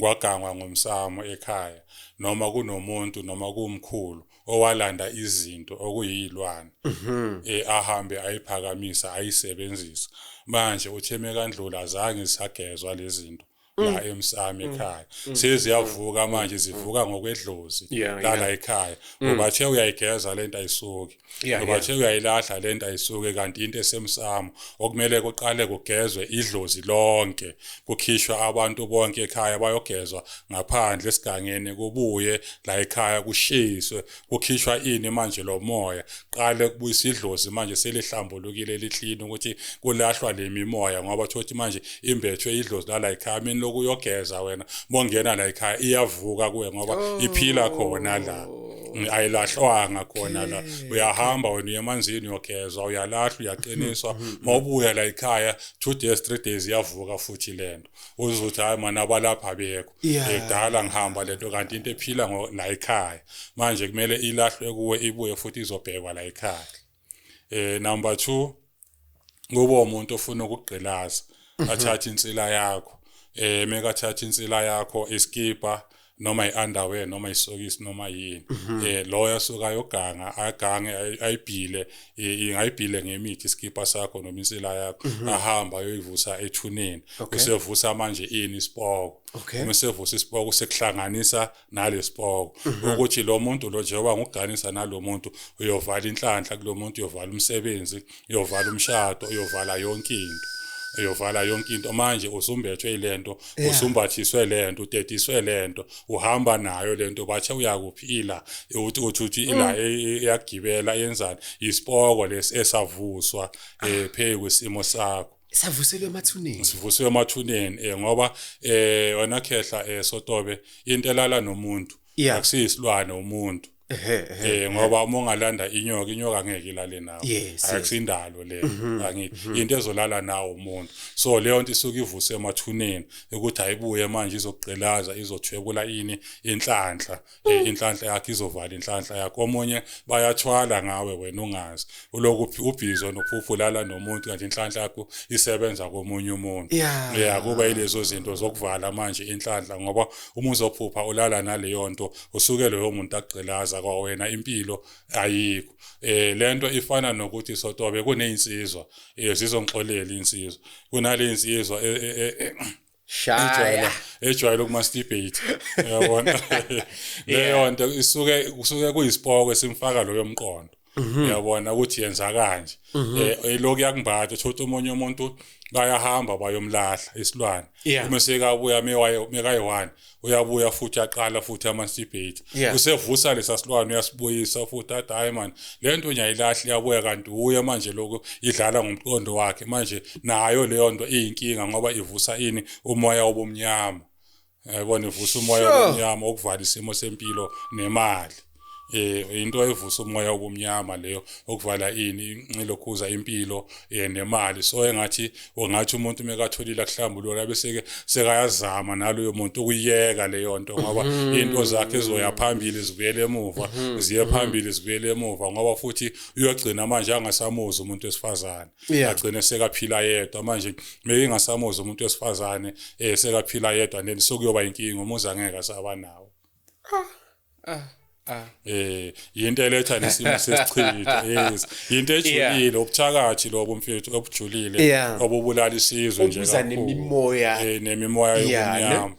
[SPEAKER 1] kwagangwa ngomsamo ekhaya noma kunomuntu noma kumkhulu owalanda izinto okuyilwane mhm. eh ahambe ayiphakamisa ayisebenzisa manje utheme kandlula azange sagezwa lezinto la mm. emsami mm. ekhaya mm. seziyavuka manje zivuka ngokwedlozi lala ekhaya ngoba the uyayigeza lento ayisuki yeah, ngoba yeah. nje uyayilahla le nto ayisuke kanti into esemsamo okumele kuqale kugezwe idlozi lonke kukhishwa abantu bonke ekhaya bayogezwa ngaphandle esigangeni kubuye la ekhaya kushiswe kukhishwa ini manje lo moya qale kubuyisa idlozi manje selihlambulukile lihlini ukuthi kulahlwa le mimoya ngoba thothi manje imbethwe idlozi lala ekhaya mina lokuyogeza wena bongena la ekhaya iyavuka kuwe ngoba oh. iphila khona la oh. ayilahlwanga khona la uyahamba wena uye emanzini uyogezwa uyalahlwa uyaqiniswa mm-hmm, mm-hmm. mawubuya la ekhaya two days three days iyavuka futhi lento uzothi hayi mana abalapha bekho edala ngihamba lento kanti into ephila la ekhaya manje kumele ilahlwe kuwe ibuye futhi izobhekwa la ekhaya eh number 2 kube umuntu ofuna ukugqilaza mhm. athathe insila yakho eh mekathatha insila yakho iskipa noma iunderwear noma isokisi noma yini mhm. eh loya suka yoganga agange ayibhile ingayibhile ngemithi iskipa sakho noma insila yakho mhm. ahamba ayoyivusa ethuneni usevusa manje ini isipoko uma sevusa isipoko sekuhlanganisa nalesibhoko mhm. ukuthi lo muntu lo njengoba nguganisa nalo muntu uyovala inhlanhla kulo muntu uyovala umsebenzi uyovala umshado uyovala yonke into eyovala yonke into manje usumbethwe ilento usumbathiswe lento utetiswe lento uhamba nayo lento bathe uyakuphila uthi uthuthi ila mm. e, e, iyagibela yenzani isipoko lesi esavuswa eh, phezu kwesimo sakho savuselwe emathuneni
[SPEAKER 2] sivuselwe emathuneni
[SPEAKER 1] eh ngoba eh wena khehla eh sotobe into elala nomuntu akusiyisilwane umuntu eh ngoba uma ungalanda inyoka inyoka ngeke ilale nawe akusindalo le mhm, angithi mhm. into ezolala nawo umuntu so leyo nto isuke ivuse emathuneni ukuthi ayibuye manje izoqgqilaza izothwebula ini inhlanhla eh, hmm. inhlanhla yakhe izovala inhlanhla yakho omunye bayathwala ngawe wena ungazi ulokuphi ubhizo nophuphu lala nomuntu kanti inhlanhla yakho isebenza komunye umuntu yeah kuba ilezo zinto zokuvala manje inhlanhla ngoba uma uzophupha ulala naleyo nto usuke loyo muntu agqilaza kwawena impilo ayikho eh lento ifana nokuthi sotobe kunezinsizwa eh zizongixolela insizwa kunale insizwa eh, eh, eh, shaya
[SPEAKER 2] ejwayele ukumasturbate
[SPEAKER 1] yabona leyo nto isuke kusuke kuyisipoko esimfaka loyo mqondo mhm. uyabona ukuthi yenza kanje mhm. eh, eloku yakumbatha thothi omunye umuntu bayahamba bayomlahla isilwane uma sekabuya mekayi-one uyabuya futhi aqala futhi ama-debate yeah. usevusa lesa silwane uyasibuyisa futhi athi hhayi mani le nto nyayilahle iyabuya kanti uye manje lokhu idlala ngomqondo wakhe manje nayo leyo nto iyinkinga ngoba ivusa ini umoya obumnyama yabona ivusa umoya obumnyama okuvala isimo sempilo nemali eh into evusa umoya obumnyama leyo okuvala ini inxilokhuza impilo eh nemali so engathi ongathi umuntu mekatholile akuhlambulula bese ke sekayazama naloyo muntu ukuyeka leyo nto ngoba mhm. into zakhe zizoya phambili zibuyele emuva mhm. ziye mhm. phambili zibuyele emuva ngoba futhi uyogcina manje angasamuzi umuntu wesifazane agcine sekaphila yedwa manje mekingasamuzi umuntu wesifazane eh sekaphila yedwa neni sokuyoba inkinga umuzi angeke asaba nawo ah ah eh yinto eletha nesimo sesichitha yes yinto ejulile ubuthakathi lobo mfethu obujulile obubulala isizwe nje kakhulu nemimoya eh nemimoya yomnyama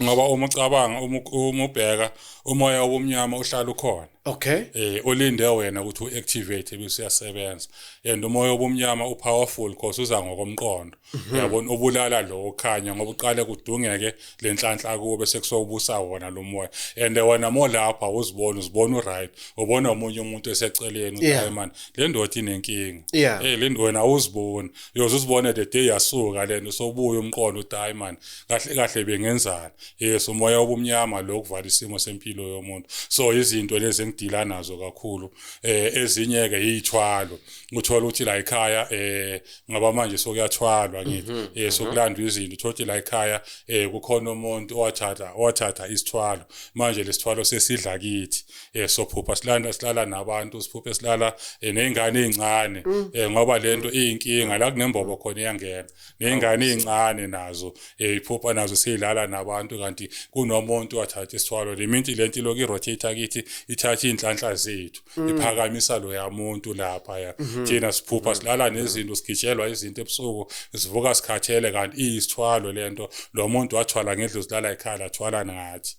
[SPEAKER 1] ngoba uma ucabanga uma ubheka umoya womnyama uhlala ukhona okay eh olinde wena ukuthi uactivate ebese uyasebenza and umoya obumnyama upowerful because uza ngokomqondo mhm. uyabona obulala lo okhanya ngoba uqale kudungeke lenhlanhla kuwo bese kusobusa wona lo moya and wena mo lapha uzibona uzibona uright ubona umunye umuntu eseceleni uthi man le ndoda inenkinga eh le wena uzibona uyoze uzibone the day yasuka lento sobuya umqondo uthi hayi man kahle kahle bengenzani yes umoya obumnyama lo kuvala isimo sempilo yomuntu so izinto lezi engidila nazo kakhulu eh ezinye ke yithwalo uthola ukuthi la ekhaya eh ngaba manje sokuyathwalwa ngithi mhm, eh mhm. sokulandwa izinto uthola ukuthi la ekhaya eh kukhona umuntu owathatha owathatha isithwalo manje lesithwalo sesidla kithi eh sophupha silanda silala nabantu siphuphe silala eh, nezingane ezincane mm. eh ngoba lento iyinkinga la kunembobo khona iyangena ney'ngane ey'ncane nazo ey'phupha eh, nazo sey'lala nabantu kanti kunomuntu wathatha isithwalo le minti le nto ilokhu i-rotate kithi ithathe iy'nhlanhla zethu mm. iphakamisa loya muntu laphaya mm-hmm. thina siphupha mm-hmm. silala nezinto sigitshelwa izinto ebusuku sivuka sikhathele kanti iyisithwalo le nto lo muntu wathwala ngedlozi lala ekhaya lathwala nathi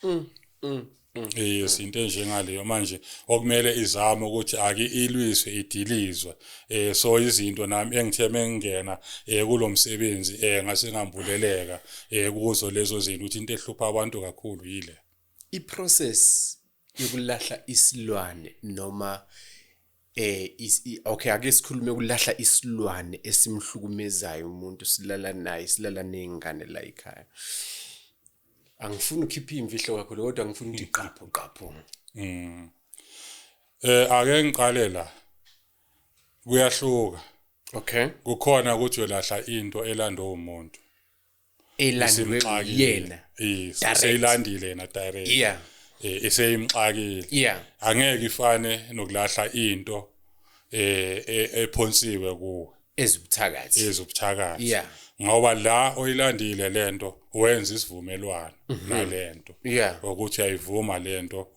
[SPEAKER 1] mm. Mm. yes into enjengaleyo manje okumele izame ukuthi ake ilwiswe idilizwe eh so izinto nami engithe mengena eh kulomsebenzi eh ngase ngambuleleka eh kuzo lezo zinto ukuthi into ehlupha abantu kakhulu yile i process
[SPEAKER 2] yokulahla isilwane noma eh okay ake sikhulume ukulahla isilwane esimhlukumezayo umuntu silala naye silala nezingane la ekhaya angifuni ukhiphe imfihlo kakhulu kodwa ngifuna ukuthi qapho qapho mm
[SPEAKER 1] eh ake ngiqale la kuyahluka okay kukhona ukuthi uyolahla into elandwa umuntu elandwe
[SPEAKER 2] yena seyilandile
[SPEAKER 1] yena direct yeah eh, eseyimxakile yeah angeke ifane nokulahla into eh e, ephonsiwe kuwe
[SPEAKER 2] ezibuthakathi ezibuthakathi
[SPEAKER 1] yeah ngoba
[SPEAKER 2] la
[SPEAKER 1] oyilandile lento wenza isivumelwano mhm. nalento ukuthi ayivuma lento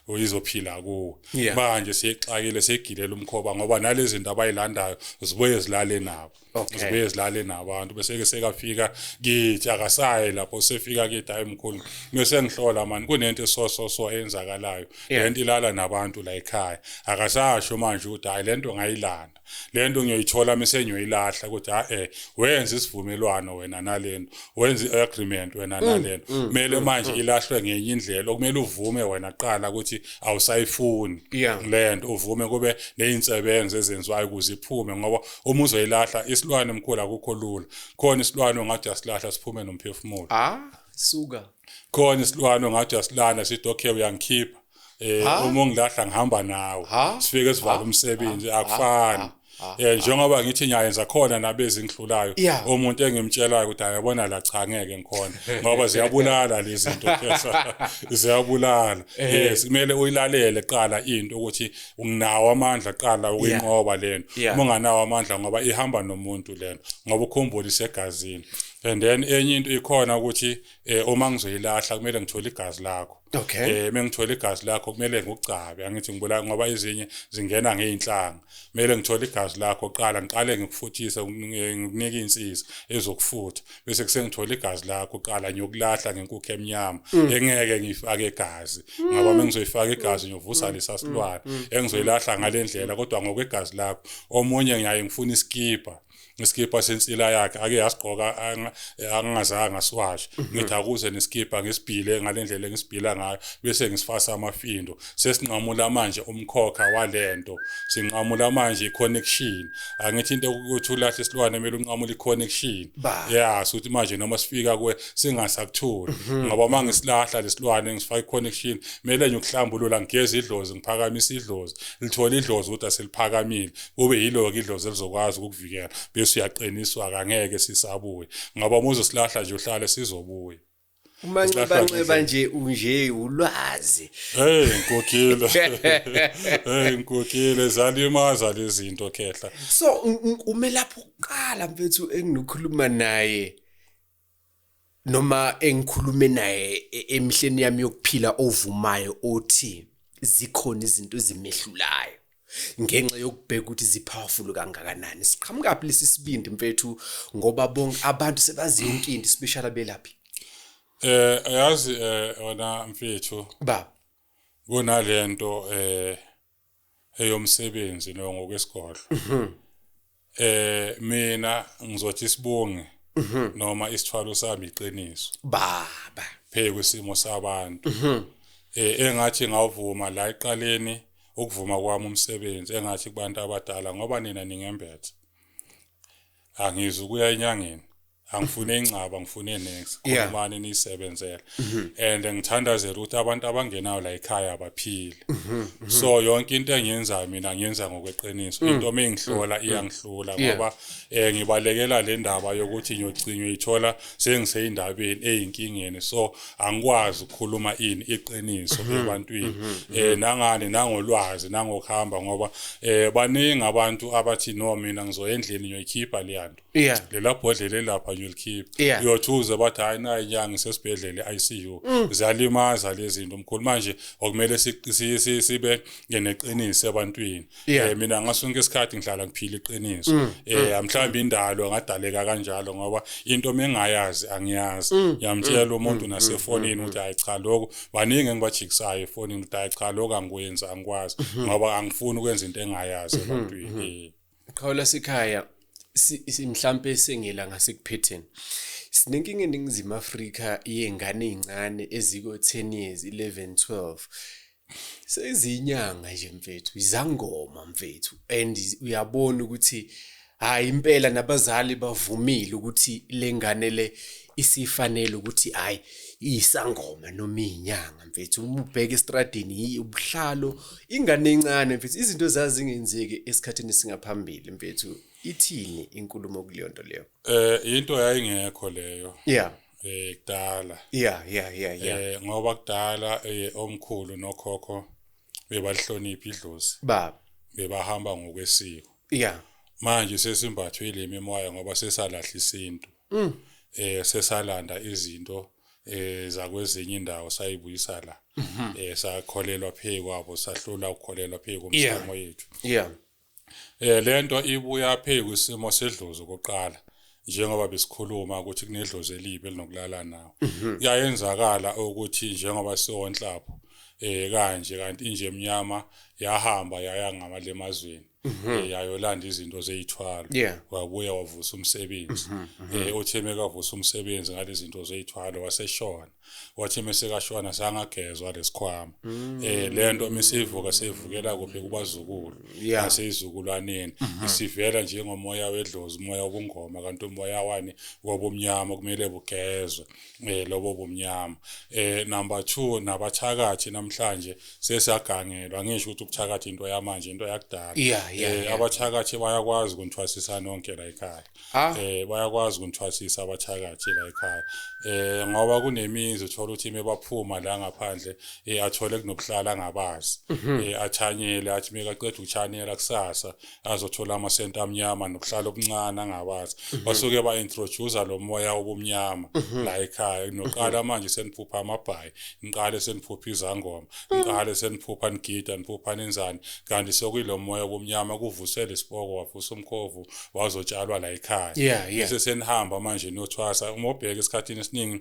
[SPEAKER 1] uyizophila kuwe manje
[SPEAKER 2] siyexakile
[SPEAKER 1] siyegilela umkhoba ngoba nalezi zinto abayilandayo zibuye zilale nabo okay. uzobuye zilale nabantu bese ke sekafika kithi akasayi lapho sefika kithi hayi mkhulu mese ngihlola mani kunento esoso so eyenzakalayo yeah. lento ilala nabantu la ekhaya akasasho manje ukuthi hayi lento ngayilanda lento ngiyoyithola mese ngiyoyilahla ukuthi ha eh wenza isivumelwano wena nalento wenza agreement wena mm, nalento mm, kumele mm, manje mm, ilahlwe ngenye indlela okumele uvume wena qala ukuthi awusayifuni yeah. lento uvume kube nezinsebenzo ezenziwayo ukuze iphume ngoba uma uzoyilahla isilwane mkhulu akukho lula khona isilwane ongathi uyasilahla siphume nomphefumulo ah suka
[SPEAKER 2] khona
[SPEAKER 1] isilwane ongathi uyasilanda sithi okay uyangikhipha um uma ungilahla ngihamba nawe sifike sivala umsebenzi akufani Ah, eh ah. njengoba ngithi ngiyayenza khona nabezingihlulayo umuntu engimtshelayo ukuthi ayabona la cha ngeke ngikhona ngoba ziyabulala lezi zinto ziyabulala eh. yes kumele uyilalele qala into ukuthi unginawo amandla qala ukuyinqoba lento uma unganawo amandla ngoba ihamba nomuntu lento ngoba ukhumbula isegazini and then enye into ikhona ukuthi eh, uma ngizoyilahla kumele ngithole igazi lakho okay eh mengithola igazi lakho kumele ngikucabe angithi ngibula ngoba izinye zingena ngeinhlanga kumele ngithole igazi lakho qala ngiqale ngikufuthise ngikunike insizwa ezokufutha bese kusengithola igazi lakho uqala ngiyokulahla ngenkukhu emnyama mm. engeke ngifake igazi mm. ngoba mengizoyifaka igazi mm. ngiyovusa lesa silwane engizoyilahla ngalendlela kodwa ngokwegazi lakho omunye ngiyaye ngifuna iskipa ngesikipha sensila yakhe ake yasigqoka angingazange ngasiwashe mhm. ngithi akuze nesikipha ngisibhile ngale ndlela engisibhila ngayo bese ngisifasa amafindo sesinqamula manje umkhokha walento sinqamula manje iconnection angithi into ukuthi ulahle isilwane kumele unqamule iconnection yeah sokuthi manje noma sifika kuwe singasakuthuli mhm. ngoba uma ngisilahla lesilwane ngisifaka iconnection kumele nje ukuhlambulula ngigeze idlozi ngiphakamisa idlozi lithole idlozi ukuthi aseliphakamile kube yilo ke idlozi elizokwazi ukukuvikela bese uyaqiniswa kangeke sisabuye ngoba uma uzosilahla nje uhlale sizobuya umanxibanxiba
[SPEAKER 2] nje unje ulwazi hey nkokhile hey
[SPEAKER 1] nkokhile zalimaza lezinto khehla so
[SPEAKER 2] ume lapho uqala mfethu enginokhuluma naye noma engikhulume naye e, emihleni yami yokuphila ovumayo othi zikhona izinto ezimehlulayo ngenxa yokubheka ukuthi zipowerful kangakanani siqhamuka phi lesi sibindi mfethu ngoba bonke abantu sebazi yonke into special abelaphi eh
[SPEAKER 1] ayazi eh wena mfethu ba kunalento eh eyomsebenzi no ngokwesigodlo mhm. eh mina ngizothi isibongi mhm. noma isithwalo sami iqiniso baba
[SPEAKER 2] pheke kwisimo
[SPEAKER 1] sabantu mhm. eh engathi ngawuvuma la iqaleni ukuvuma kwami umsebenzi engathi kubantu abadala ngoba nina ningembethe angizi ukuya enyangeni angifune ingcaba ngifune next khulumani niyisebenzela mhm. and ngithandazela ukuthi abantu abangenayo la ekhaya abaphile mhm, mhm. so yonke into engiyenzayo mina ngiyenza ngokweqiniso mm, into uma mm, ingihlola mm. iyangihlula ngoba um ngibalekela le ndaba yokuthi ngiyogcinywa ithola sengiseyindabeni eyinkingeni so angikwazi ukukhuluma ini iqiniso ebantwini um nangani nangolwazi nangokuhamba ngoba um baningi abantu abathi no mina ngizoya endlini ngiyoyikhipha leyanto yeah lela bhodlela elapha you'll keep yeah. uyothuza bathi hayi nayi inyanga isesibhedlela i-ICU mm. ziyalimaza lezi zinto mkhulu manje okumele sibe ngeneqiniso ebantwini yeah. eh, mina ngasonke isikhathi ngihlala ngiphila iqiniso mm. eh mm. mhlawumbe indalo ngadaleka kanjalo ngoba into mengayazi angiyazi mm. yamtshela mm. umuntu mm. nasefonini mm. ukuthi hayi cha lokho baningi engibajikisayo efonini ukuthi hayi cha lokho angikwenzi angikwazi mm-hmm. ngoba angifuni ukwenza into engayazi mm-hmm. ebantwini mm-hmm. Qhawe lasekhaya
[SPEAKER 2] mhlampe sengela ngasekuphetheni sinenkinga eningizimu Afrika yengane ezincane eziko 10 years 11 12 sezinyanga nje mfethu izangoma mfethu and uyabona ukuthi hayi impela nabazali bavumile ukuthi lengane le isifanele ukuthi hayi iyisangoma noma iyinyanga mfethu uma ubheka estradini yiyi ubuhlalo ingane encane mfethu izinto zazingenzeki esikhathini singaphambili mfethu ithini inkulumo kuleyo nto leyo eh into
[SPEAKER 1] yayingekho leyo yeah eh kudala yeah yeah yeah yeah eh ngoba kudala eh omkhulu nokhokho bebalihlonipha idlozi baba
[SPEAKER 2] bebahamba
[SPEAKER 1] ngokwesiko yeah manje sesimbathwe le mimoya ngoba sesalahla isintu mm. eh sesalanda izinto eh zakwezinye indawo sayibuyisa la mm -hmm. eh sakholelwa phezu kwabo sahlula ukukholelwa phezu komsamo yeah. yethu yeah eh lento ibuya phezu kwisimo sedlozi koqala njengoba besikhuluma ukuthi kunedlozi elibi elinokulala nawo mhm. kuyayenzakala ukuthi njengoba siwonhlapho eh kanje kanti inje emnyama yahamba yaya ngamalemazweni Mhm. Eh, yayolanda izinto zeyithwalo Yeah. Mhm, wabuya wavusa umsebenzi eh uthe mekavusa umsebenzi ngale zinto zeyithwalo waseshona wathi mesekashona sangagezwa lesikhwama Mm. eh lento misivuka sevukela kuphi kubazukulu Yeah. Mhm. naseyizukulwaneni isivela njengomoya wedlozi umoya obungoma kanti umoya wani wobumnyama kumele bugezwe eh lobo bumnyama eh number 2 nabathakathi namhlanje sesagangelwa ngisho ukuthi ukuthakatha into yamanje into yakudala yeah, yeah, eh yeah. abathakathi bayakwazi ukunthwasisa nonke la ekhaya ah. eh bayakwazi ukunthwasisa abathakathi la ekhaya eh ngoba kunemizi uthola ukuthi mebaphuma la ngaphandle eh athole kunobuhlala ngabazi mhm. eh athanyele athi mekaqeda ukuchanela kusasa azothola amasenta amnyama nokuhlala okuncane angawazi mhm. basuke ba introduce lo moya obumnyama mhm. la ekhaya noqala mhm. manje seniphupha amabhayi ngiqale seniphupha izangoma ngiqale seniphupha ngigida niphupha nenzani kanti sokuyilo moya obumnyama kuvusela isiboko wavusa umkhovu wazotshalwa la ekhaya bese senihamba manje nothwasa uma ubheka esikhathini esiningi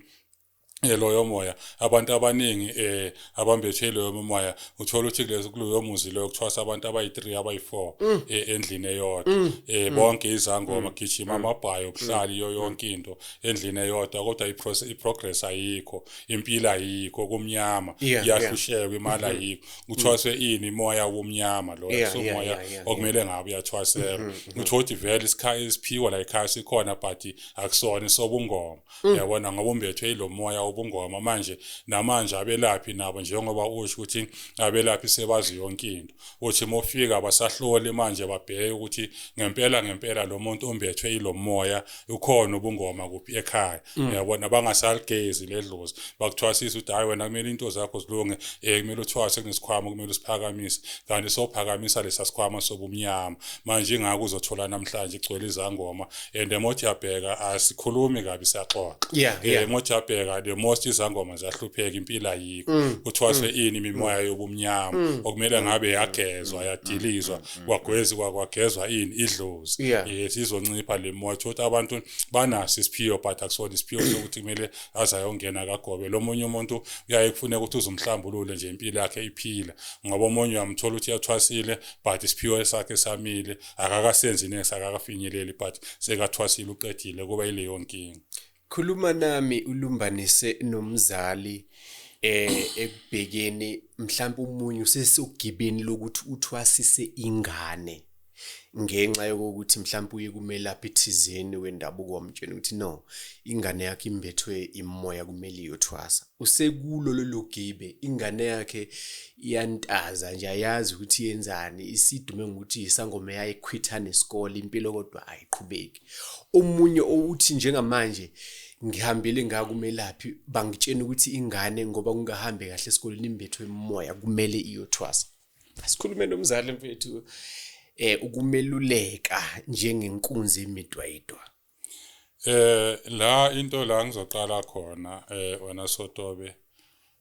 [SPEAKER 1] Eh, loyo moya abantu abaningi eh abambethe loyo moya uthola ukuthi kulezo kuloyo muzi loyo kuthwasa abantu abayi3 abayi4 mm. eh, endlini eyodwa mm. eh mm. bonke izangoma gijima amabhayo kuhlali yo yonke into endlini eyodwa kodwa i process i progress ayikho impilo ayikho kumnyama iyahlushekwa imali mm-hmm. ayikho kuthwaswe ini moya womnyama lo somoya okumele ngabe uyathwasela mm-hmm, mm-hmm. uthothi vele isikhayi isiphiwa la ikhaya sikhona but akusona sobungoma Mm. uyabona ngoba umbethwe yilo moya wobungoma manje namanje abelaphi nabo njengoba usho ukuthi abelaphi sebazi yonke into uthi uma ufika basahloli manje babheke ukuthi ngempela ngempela lo muntu umbethwe yilo moya ukhona ubungoma kuphi ekhaya mm. uyabona bangasaligezi ledlozi bakuthwasisa ukuthi hhayi wena kumele into zakho zilunge um eh, kumele uthwase kunesikhwama kumele usiphakamise kanti sophakamisa lesa sikhwama sobumnyama manje ingako uzothola namhlanje igcwele izangoma and emojabheka asikhulumi kabi siyaxoxa yeah, eh, yeah. emojabheka the most izangoma ziyahlupheka impilo ayikho mm. kuthwaswe mm. ini imimoya mm. yobumnyama mm. okumele mm. ngabe yagezwa mm. yadilizwa mm. kwagwezi kwagezwa ini idlozi yeah. yes izoncipha le moya ukuthi abantu banaso isiphiwo but akusona isiphiwo sokuthi kumele azayongena kagobe lo munye umuntu uyaye kufuneka ukuthi uzumhlambulule nje impilo yakhe iphila ngoba omunye uyamthola ukuthi yathwasile but isiphiwo sakhe samile akakasenzi next akakafinyeleli but sekathwasile uqedile kuba ileyo nkinga khuluma
[SPEAKER 2] nami ulumbanise nomzali eh ekubhekeni mhlawumbe umunyu sesogibeni lokuthi uthwasise ingane ngenxa yokuthi mhlawumbe uye kumelaphi thizeni wendabuko wamtshena ukuthi no ingane yakhe imbethwe imoya kumele iyothwasa usekulo lolu gibe ingane yakhe iyantaza nje ayazi ukuthi yenzani isidume ngokuthi isangoma eyayikhwitha nesikole impilo kodwa ayiqhubeki omunye owuthi njengamanje ngihambile ngakumelaphi bangitshena ukuthi ingane ngoba kungahambe kahle esikoleni imbethwe emoya kumele iyothwasa asikhulume nomzali mfethu eh ukumeluleka njengenkunzi emidwayidwa Eh la
[SPEAKER 1] into la ngizoqala khona eh wena Sotobe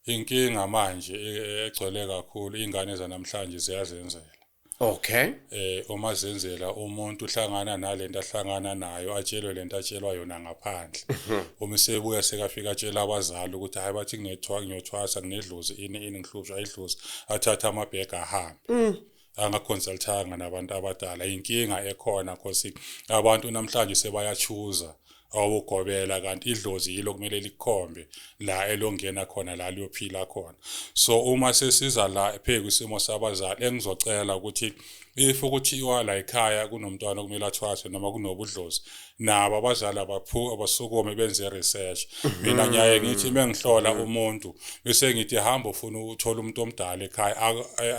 [SPEAKER 1] inkinga manje e, e, egcwele kakhulu ingane zanamhlanje ziyazenzela Okay.
[SPEAKER 2] Eh uma
[SPEAKER 1] zenzela umuntu uhlangana nalento ahlangana nayo atshelwe lento atshelwa yona ngaphandle. Mhm. Uma sebuya sekafika atshela abazali ukuthi hayi bathi kunethwa ngiyothwasa nginedlozi ini ini ngihlushwa idlozi athatha amabhega ahambe. Mm. angaconsultanga nabantu abadala inkinga ekhona cause abantu namhlanje sebayachuza awugobela kanti idlozi yilo kumele likhombe la elongena khona la liyophila khona so uma sesiza la phezulu isimo sabazali engizocela ukuthi if kuthiwa la ekhaya kunomntwana okumele athwaswe noma kunobudlozi nabo abazali abaphu abasukumi benze research mina mm. ngiyaye ngithi uma ngihlola mm. umuntu bese ngithi hamba ufuna ukuthola umuntu omdala ekhaya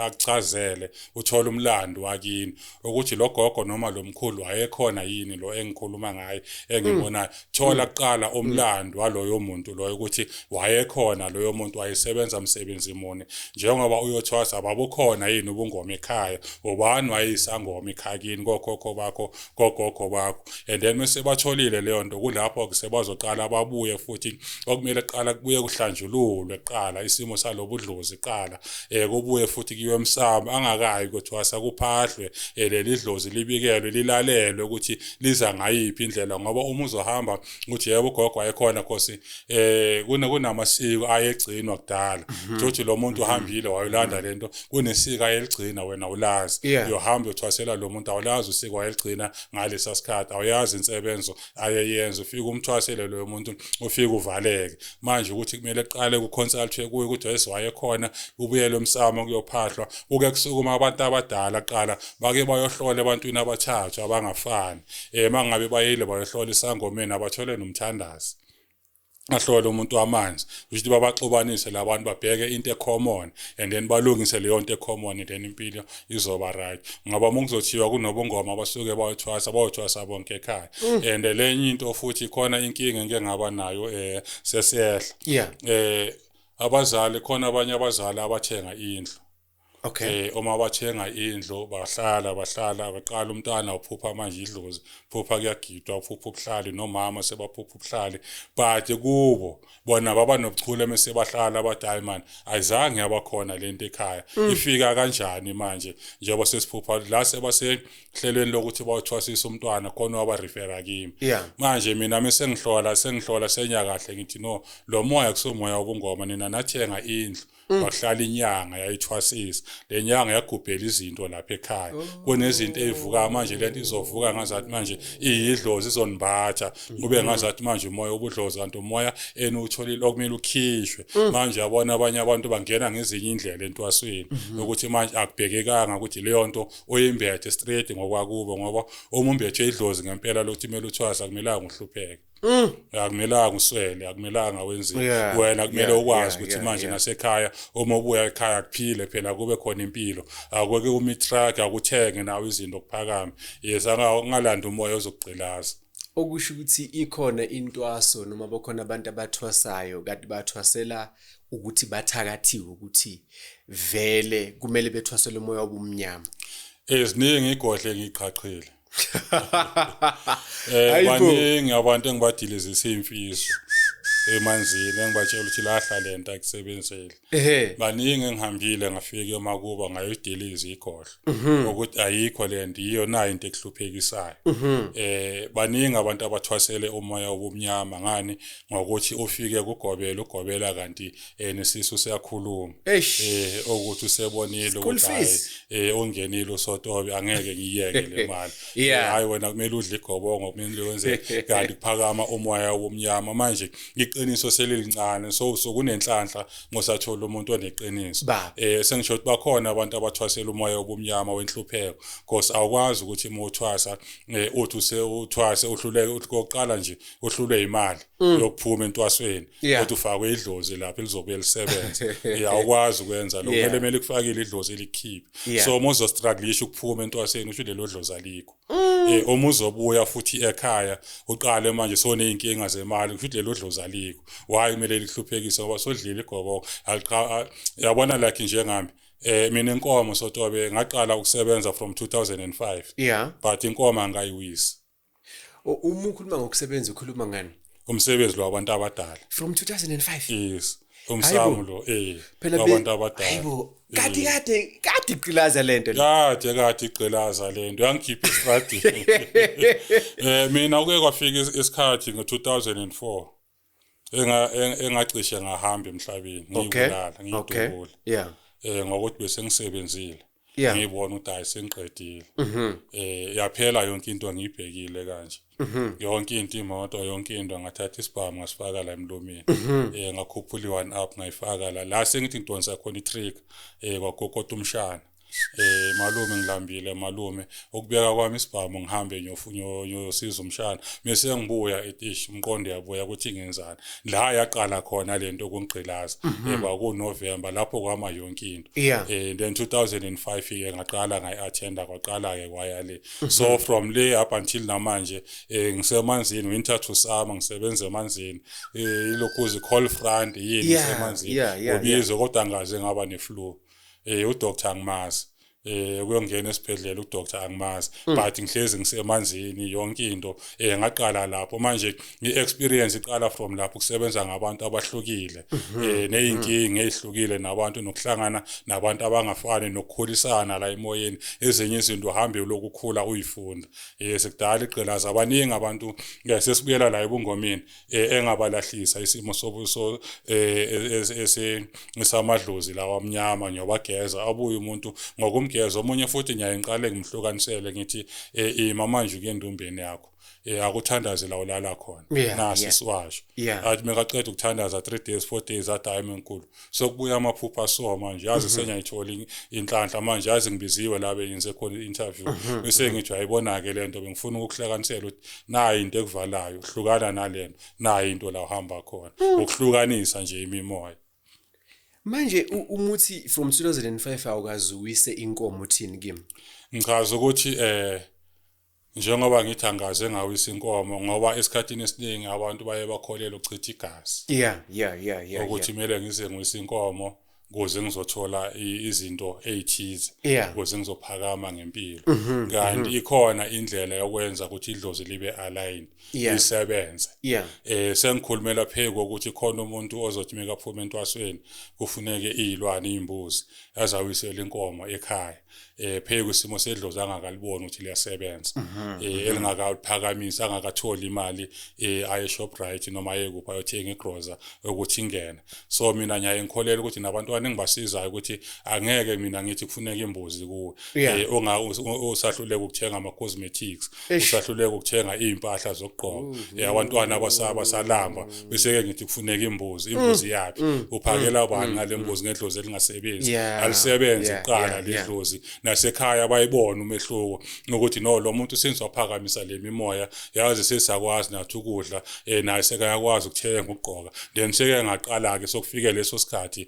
[SPEAKER 1] akuchazele uthola umlando wakini ukuthi lo gogo noma lo mkhulu wayekhona yini lo engikhuluma ngaye engibonayo mm. thola kuqala umlando waloyo muntu loyo ukuthi wayekhona loyo muntu wayesebenza msebenzi muni njengoba uyothwasa babukhona yini ubungoma ekhaya ubani wayisangoma ekhaya kini kokhokho bakho kogogo bakho and then mese batholile leyo nto kulapho ke sebazoqala babuye futhi okumele kuqala kubuye kuhlanjululwe kuqala isimo salobudlozi kuqala eh kubuye futhi kuyiwe emsamo angakayi kuthiwasa kuphahlwe eh, leli dlozi libikelwe lilalelwe ukuthi liza ngayiphi indlela ngoba uma uzohamba ukuthi yebo ugogo wayekhona khosi eh kuna kunamasiko ayegcinwa kudala mhm. futhi lo muntu mhm. uhambile wayolanda mhm. lento kunesiko ayeligcina wena ulazi uyohamba uthwasela lo muntu awulazi usiko wayeligcina ngalesa sikhathi awuyazi insebenzo ayeyenza ufike umthwasele lo muntu ufike uvaleke manje ukuthi kumele qale ku consult kuye ukuthi wayese wayekhona ubuyele umsamo kuyophahlwa kuke kusukuma abantu abadala qala bake bayohlola ebantwini abathathu abangafani eh mangabe bayile bayohlola isangomeni abathole nomthandazi ahlole umuntu wamanzi ukuthi babaxubanise labantu babheke into ecommon and then balungise leyo nto ecommon and then impilo izoba right ngoba uma kuzothiwa kunobungoma abasuke bayothwasa bayothwasa bonke ekhaya mm. and lenye into futhi khona inkinga engike ngaba nayo eh sesehla eh abazali khona abanye abazali abathenga indlu okay eh
[SPEAKER 2] uma wathenga
[SPEAKER 1] indlu bahlala bahlala baqala umntana uphupha manje idlozi phupha kuyagidwa uphupha ubuhlali nomama sebaphupha ubuhlali but kubo bona baba nobuchule mase bahlala abadala man ayizange abakhona lento ekhaya mm. ifika kanjani manje njengoba sesiphupha la sebasehlelweni lokuthi bawuthwasisa umntwana khona waba refera kimi manje mina mase ngihlola sengihlola senya kahle ngithi no lo moya kusomoya obungoma nina nathenga indlu Mm. wahlala inyanga yayithwasisa le nyanga yagubhela izinto lapha ekhaya oh. kunezinto ezivuka manje le nto izovuka ngazathi manje iyidlozi izonibhatha kube mm. ngazathi manje umoya ubudlozi kanti umoya eniwutholile okumele ukhishwe mm. manje abona abanye abantu bangena ngezinye indlela entwasweni mm-hmm. ukuthi manje akubhekekanga ukuthi leyo nto oyimbethe straight ngokwakubo ngoba uma umbethe idlozi ngempela lokuthi kumele uthwasa akumelanga uhlupheke Mm. akumelanga uswele akumelanga wenzile yeah, wena kumele yeah, ukwazi ukuthi yeah, yeah, manje yeah. nasekhaya uma ubuya ekhaya kuphile phela kube khona impilo akweke uma itruck akuthenge nawe izinto kuphakame yes angalanda umoya ozokugqilaza okusho ukuthi
[SPEAKER 2] ikhona intwaso noma bakhona abantu abathwasayo kanti bathwasela ukuthi bathakathiwe ukuthi vele kumele bethwasele umoya obumnyama eziningi
[SPEAKER 1] igodle ngiqhaqhile eh baningi abantu engibadile zesimfiso emanzini engibatshela ukuthi lahla lento akusebenzeli baningi engihambile ngafika emakuba ngayodiliza igodlo mhm. ukuthi ayikho lento iyo nayo into ekuhluphekisayo mhm. eh baningi abantu abathwasele umoya obumnyama ngani ngokuthi ufike kugobela ugobela kanti eh nesisu siyakhuluma Eish. eh okuthi usebonile School ukuthi hayi fees. eh ongenile usotobe angeke ngiyeke le mali Yeah. Eh, hayi wena kumele udle igobongo kumele wenze kanti kuphakama umoya womnyama manje iqiniso selilincane so so kunenhlanhla ngosathola umuntu oneqiniso Baba. eh sengisho ukuthi bakhona abantu abathwasela umoya wobumnyama wenhlupheko because awukwazi ukuthi uma uthwasa eh, uthi usewuthwase uhluleke uthi kokuqala nje uhlulwe imali mm. yokuphuma entwasweni kodwa ufakwe idlozi lapho elizobuye lisebenze awukwazi ukwenza lokho kumele kumele kufakile idlozi elikhiphe so uma uzostrugglisha ukuphuma entwasweni usho lelo dlozi alikho mm. eh, uma uzobuya futhi ekhaya uqale manje soney'nkinga zemali kusho ukuthi lelo dlozi alikho why kumele lihluphekise ngoba sodlile igoboko yabona like njengami eh mina inkomo sotobe ngaqala ukusebenza from 2005 yeah but inkomo angayiwisi
[SPEAKER 2] uma ukhuluma ngokusebenza ukhuluma ngani umsebenzi lo wabantu
[SPEAKER 1] abadala from 2005
[SPEAKER 2] yes
[SPEAKER 1] umsamo lo eh wabantu abadala hayibo kade
[SPEAKER 2] kade kade iqilaza lento kade kade
[SPEAKER 1] iqilaza lento yangikhipha estradi eh mina uke kwafika isikhathi ngo2004 enga eng- engacishe ngahamba emhlabeni Okay. ngiyibulala Okay. ngiyidubula Yeah. eh ngokuthi bese ngisebenzile Yeah. Mhm. ngibona ukuthi hayi sengiqedile eh yaphela yonke into ngiyibhekile kanje Mhm. yonke into imoto yonke into ngathatha isibhamu ngasifaka la emlomeni Mhm. eh ngakhuphula i-one up ngayifaka la la sengithi ngidonsa khona i-trick eh kwagokoda umshana eh malume ngilambile malume ukubeka kwami isibhamu ngihambe ngiyosiza umshana mese ngibuya etish umqondo yabuya ukuthi ngenzani la yaqala khona lento kungqilaza mhm. eba ku November lapho kwama yonke into eh then 2005 ke ngaqala ngayi attenda kwaqala ke kwaya le mhm. so from le up until namanje eh ngisemanzini winter to summer ngisebenza emanzini eh ilokuzi cold front yini ngisemanzini ubizo kodwa ngaze ngaba ne flu eh udoctor angimazi eh kuyongena esibhedlela udoctor angimazi mm. but ngihlezi ngisemanzini yonke into eh ngaqala lapho manje ngiexperience iqala from lapho kusebenza ngabantu abahlukile mhm. eh nezinkingi mm. ezihlukile nabantu nokuhlangana nabantu abangafani nokukhulisana la emoyeni ezinye izinto uhambe lokukhula uyifunda eh sekudala igqilaza abaningi abantu eh, sesibuyela la ebungomeni eh, engabalahlisa isimo sobuso eh, esamadlozi lawa amnyama ngiyobageza abuye umuntu ngokumgeza omunye futhi ngiyaye ngiqale ngimhlukanisele ngithi eh, ima manje kuyendumbeni yakho eh akuthandaze la ulala khona nasi siwasho athi mekaqeda ukuthandaza 3 days 4 days athi hayi menkulu sokubuya amaphupha so manje yazi mhm. senyayithola inhlanhla manje yazi ngibiziwe la bengenze khona i-interview mhm. bese mhm. ngithi ayibona-ke le nto bengifuna ukuhlakanisela ukuthi nayi into ekuvalayo hlukana nale nto nayi into la uhamba khona hmm. ukuhlukanisa nje imimoya
[SPEAKER 2] manje umuthi from 2005 awukazuwise inkomo uthini kimi ngichaza ukuthi
[SPEAKER 1] eh njengoba ngithi angaze ngawisa inkomo ngoba esikhathini esiningi abantu baye bakholelwa ukuchitha igazi yeah yeah yeah yeah ukuthi kumele ngize ngwisa inkomo kuze ngizothola izinto ezithize kuze ngizophakama ngempilo mhm, mhm. kanti ikhona indlela yokwenza ukuthi idlozi libe aligned isebenze eh sengikhulumela phezulu ukuthi khona umuntu ozothi mekaphuma entwasweni kufuneke izilwane izimbuzi azawisela inkomo ekhaya eh pheke kwisimo sedlozi angakalibona ukuthi liyasebenza mhm, eh mhm. elingakaphakamisa angakatholi imali eh aye Shoprite noma aye kuphi ayothenga igroza ukuthi ingene so mina ngiyaye ngikholele ukuthi nabantwana engibasizayo ukuthi angeke mina ngithi kufuneka imbuzi kuwe eh onga usahluleka ukuthenga ama cosmetics usahluleka ukuthenga izimpahla zokugqoka mm, mm, yabantwana mm, abasaba salamba bese ke ngithi kufuneka imbuzi imbuzi yapi uphakela bani ngale mbuzi ngedlozi elingasebenzi alisebenze iqala ledlozi nasekhaya bayibona umehluko ukuthi no lo muntu senze waphakamisa le mimoya yazi sesakwazi nathi ukudla eh naye sekayakwazi ukuthenga ukugqoka then seke ngaqala ke sokufike leso sikhathi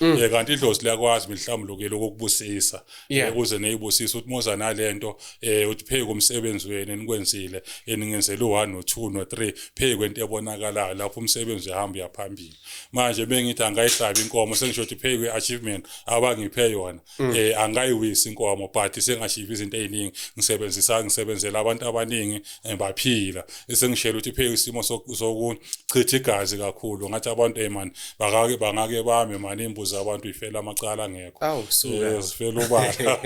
[SPEAKER 1] Mm. Eh kanti idlozi liyakwazi mhlawumbe lokelo kokubusisa yeah. Eh, kuze neyibusisa uthi moza nalento eh uthi pheke umsebenzi wenu enikwenzile eningenzela u1 no 2 no 3 pheke kwento ebonakalayo lapho umsebenzi uhamba uyaphambili manje bengithi angayihlabi inkomo sengisho ukuthi pheke achievement abangiphe yona mm. eh angayiwisi inkomo but sengashiva izinto eziningi ngisebenzisa ngisebenzela abantu abaningi eh, baphila esengishela ukuthi pheke isimo sokuchitha igazi kakhulu ngathi abantu hey man bakake bangake bame man imbuzi abantu ifela amacala ngekho awu suka eh, zifela ubala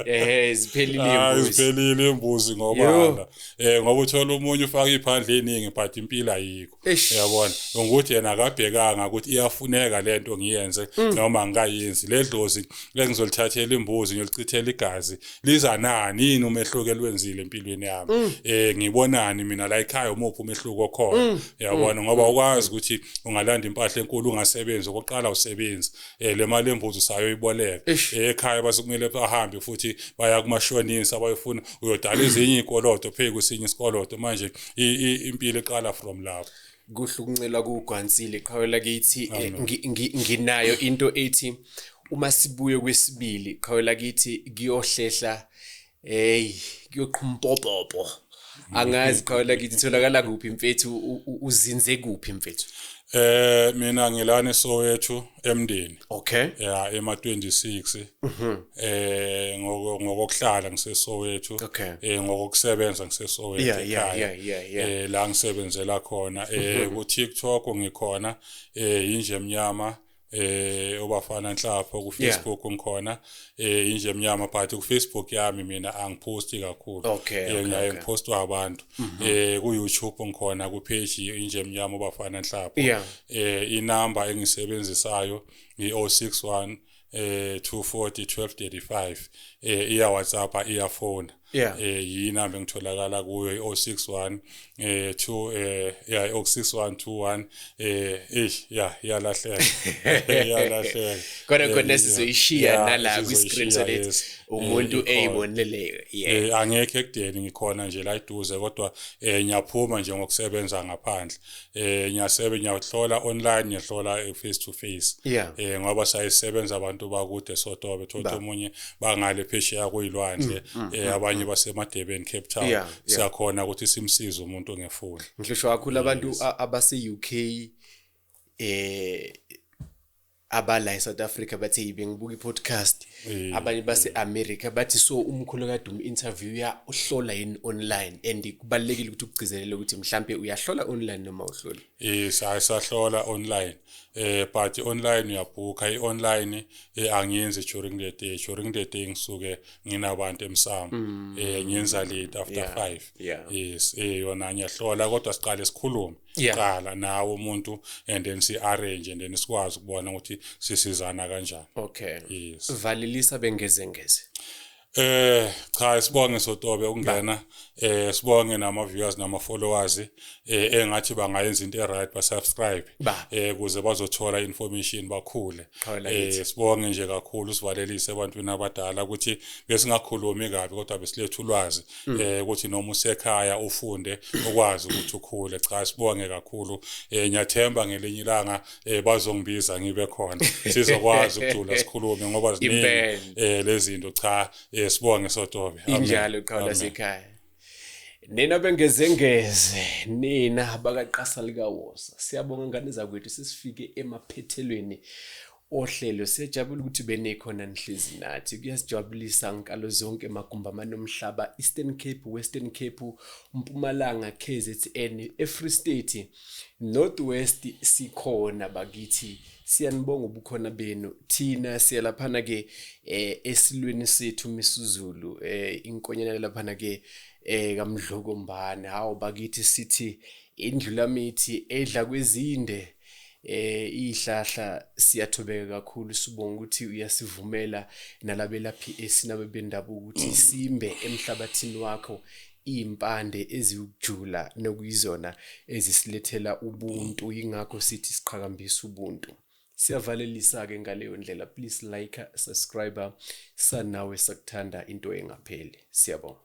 [SPEAKER 1] eh ziphelile ah, imbuzi ziphelile imbuzi ngoba eh ngoba uthola umunye ufaka iphandle eningi but impilo ayikho yabona ngokuthi yena akabhekanga ukuthi iyafuneka le nto ngiyenze mm. noma ngikayenzi le dlozi lengizolithathela imbuzi ngiyolichithela igazi liza nani yini umehluko elwenzile empilweni yami um ngibonani mina la ekhaya umuphi umehluko okhona mm. yabona ngoba mm. ukwazi ukuthi ungalanda impahla enkulu ungasebenzi okokuqala usebenzi um le mali embuzi usayoyiboleka ekhaya basekumele bahambe futhi baya kumashonisa bayofuna uyodala ezinye iy'koloto pheku esinye isikoloto manje impilo eqala from lapho kuhlukuncela
[SPEAKER 2] kugwansile qhawe lakithi eh, nginayo into ethi uma sibuye kwesibili qhawe lakithi kuyohlehla hey kuyoqhumpopopo angazi qhawe lakithi itholakala kuphi mfethu uzinze kuphi mfethu eh mina
[SPEAKER 1] ngilana esowethu emndeni okay ya ema 26 mhm. eh ngoko ngokuhlala ngisesowethu okay. eh ngokusebenza ngisesowethu yeah, yeah, yeah, yeah, yeah. eh la ngisebenzela khona eh mhm. ku TikTok ngikhona eh inje emnyama eh obafana nhlapho ku Facebook yeah. ngikhona eh inje emnyama but ku Facebook yami mina angiposti kakhulu okay, eh, okay, ngiyaye okay. ngipostwa abantu mm -hmm. eh ku YouTube ngikhona ku page inje emnyama bafana nhlapho yeah. eh inamba engisebenzisayo i 061 eh 240 1235 eh iya WhatsApp iya phone yeah eh yina bengitholakala kuyo i061 eh 2 eh yeah i06121 eh eish yeah yalahleka yalahleka kodwa eh,
[SPEAKER 2] kodwa sizoyishiya nala kwi screen so that eh, umuntu eyiboneleyo yeah eh, angekho ekudeni
[SPEAKER 1] ngikhona nje la iduze kodwa eh ngiyaphuma nje ngokusebenza ngaphandle eh ngiyasebe ngiyahlola online ngiyahlola eh, face to face yeah. eh ngoba sayisebenza abantu bakude sotobe thola Ba. omunye bangale phesheya kuyilwandle mm, mm, eh abanye basemadebeni Cape Town Yeah, yeah. siyakhona ukuthi simsize umuntu ngefoni ngisho kakhulu abantu
[SPEAKER 2] a- abase-uk eh abala eSouth Africa bathi hey bengibuka ipodcast mm. abanye base America bathi so umkhulu kaDumi interview ya uhlola yini online and kubalekile ukuthi ukugcizelele ukuthi mhlambe uyahlola online noma uhlola eh sahlola
[SPEAKER 1] online eh but online uyabhuka i-online eh, angiyenzi during the day during the day ngisuke nginabantu emsamo mm. eh ngiyenza late after 5 yes eh yona ngiyahlola kodwa siqale sikhulume siqala nawe umuntu and then si arrange and then sikwazi ukubona ukuthi sisizana kanjani okay yes valilisa bengeze
[SPEAKER 2] ngeze Eh
[SPEAKER 1] cha sibonge sotobe ukungena eh sibonge nama viewers nama followers eh engathi bangayenza into eright ba subscribe eh kuze bazothola information bakhule eh sibonge nje kakhulu sivalelise ebantwini abadala ukuthi besingakhulumi kabi kodwa besiletha ulwazi hmm. eh ukuthi noma usekhaya ufunde ukwazi ukuthi ukhule cha sibonge kakhulu eh ngiyathemba ngelinye ilanga eh bazongibiza ngibe khona sizokwazi ukujula sikhulume ngoba ziningi eh lezinto cha eh sibonge sotobe injalo qala
[SPEAKER 2] sekhaya nina bengezengeze nina bakaqasa likawosa siyabonga ngane zakwethu sesifike emaphethelweni ohlelo siyajabula ukuthi benekhona nihlezi nathi kuyasijabulisa ngikalo zonke magumba amanomhlaba Eastern Cape Western Cape Mpumalanga KZN eFree State North West sikhona bakithi siyanibonga ubukhona benu thina siyalaphana ke eh, esilweni sethu misuzulu eh, inkonyana laphana ke eh, kamdloko mbane hawo bakithi sithi indlulamithi edla kwezinde eh ihlahla siyathobeka kakhulu sibonga ukuthi uyasivumela nalabelaphi esinabe bendabuko ukuthi simbe emhlabathini wakho impande eziyukujula nokuyizona ezisilethela ubuntu ingakho sithi siqhakambisa ubuntu siyavalelisa ke ngaleyo ndlela please like subscribe sanawe sakuthanda into engapheli siyabonga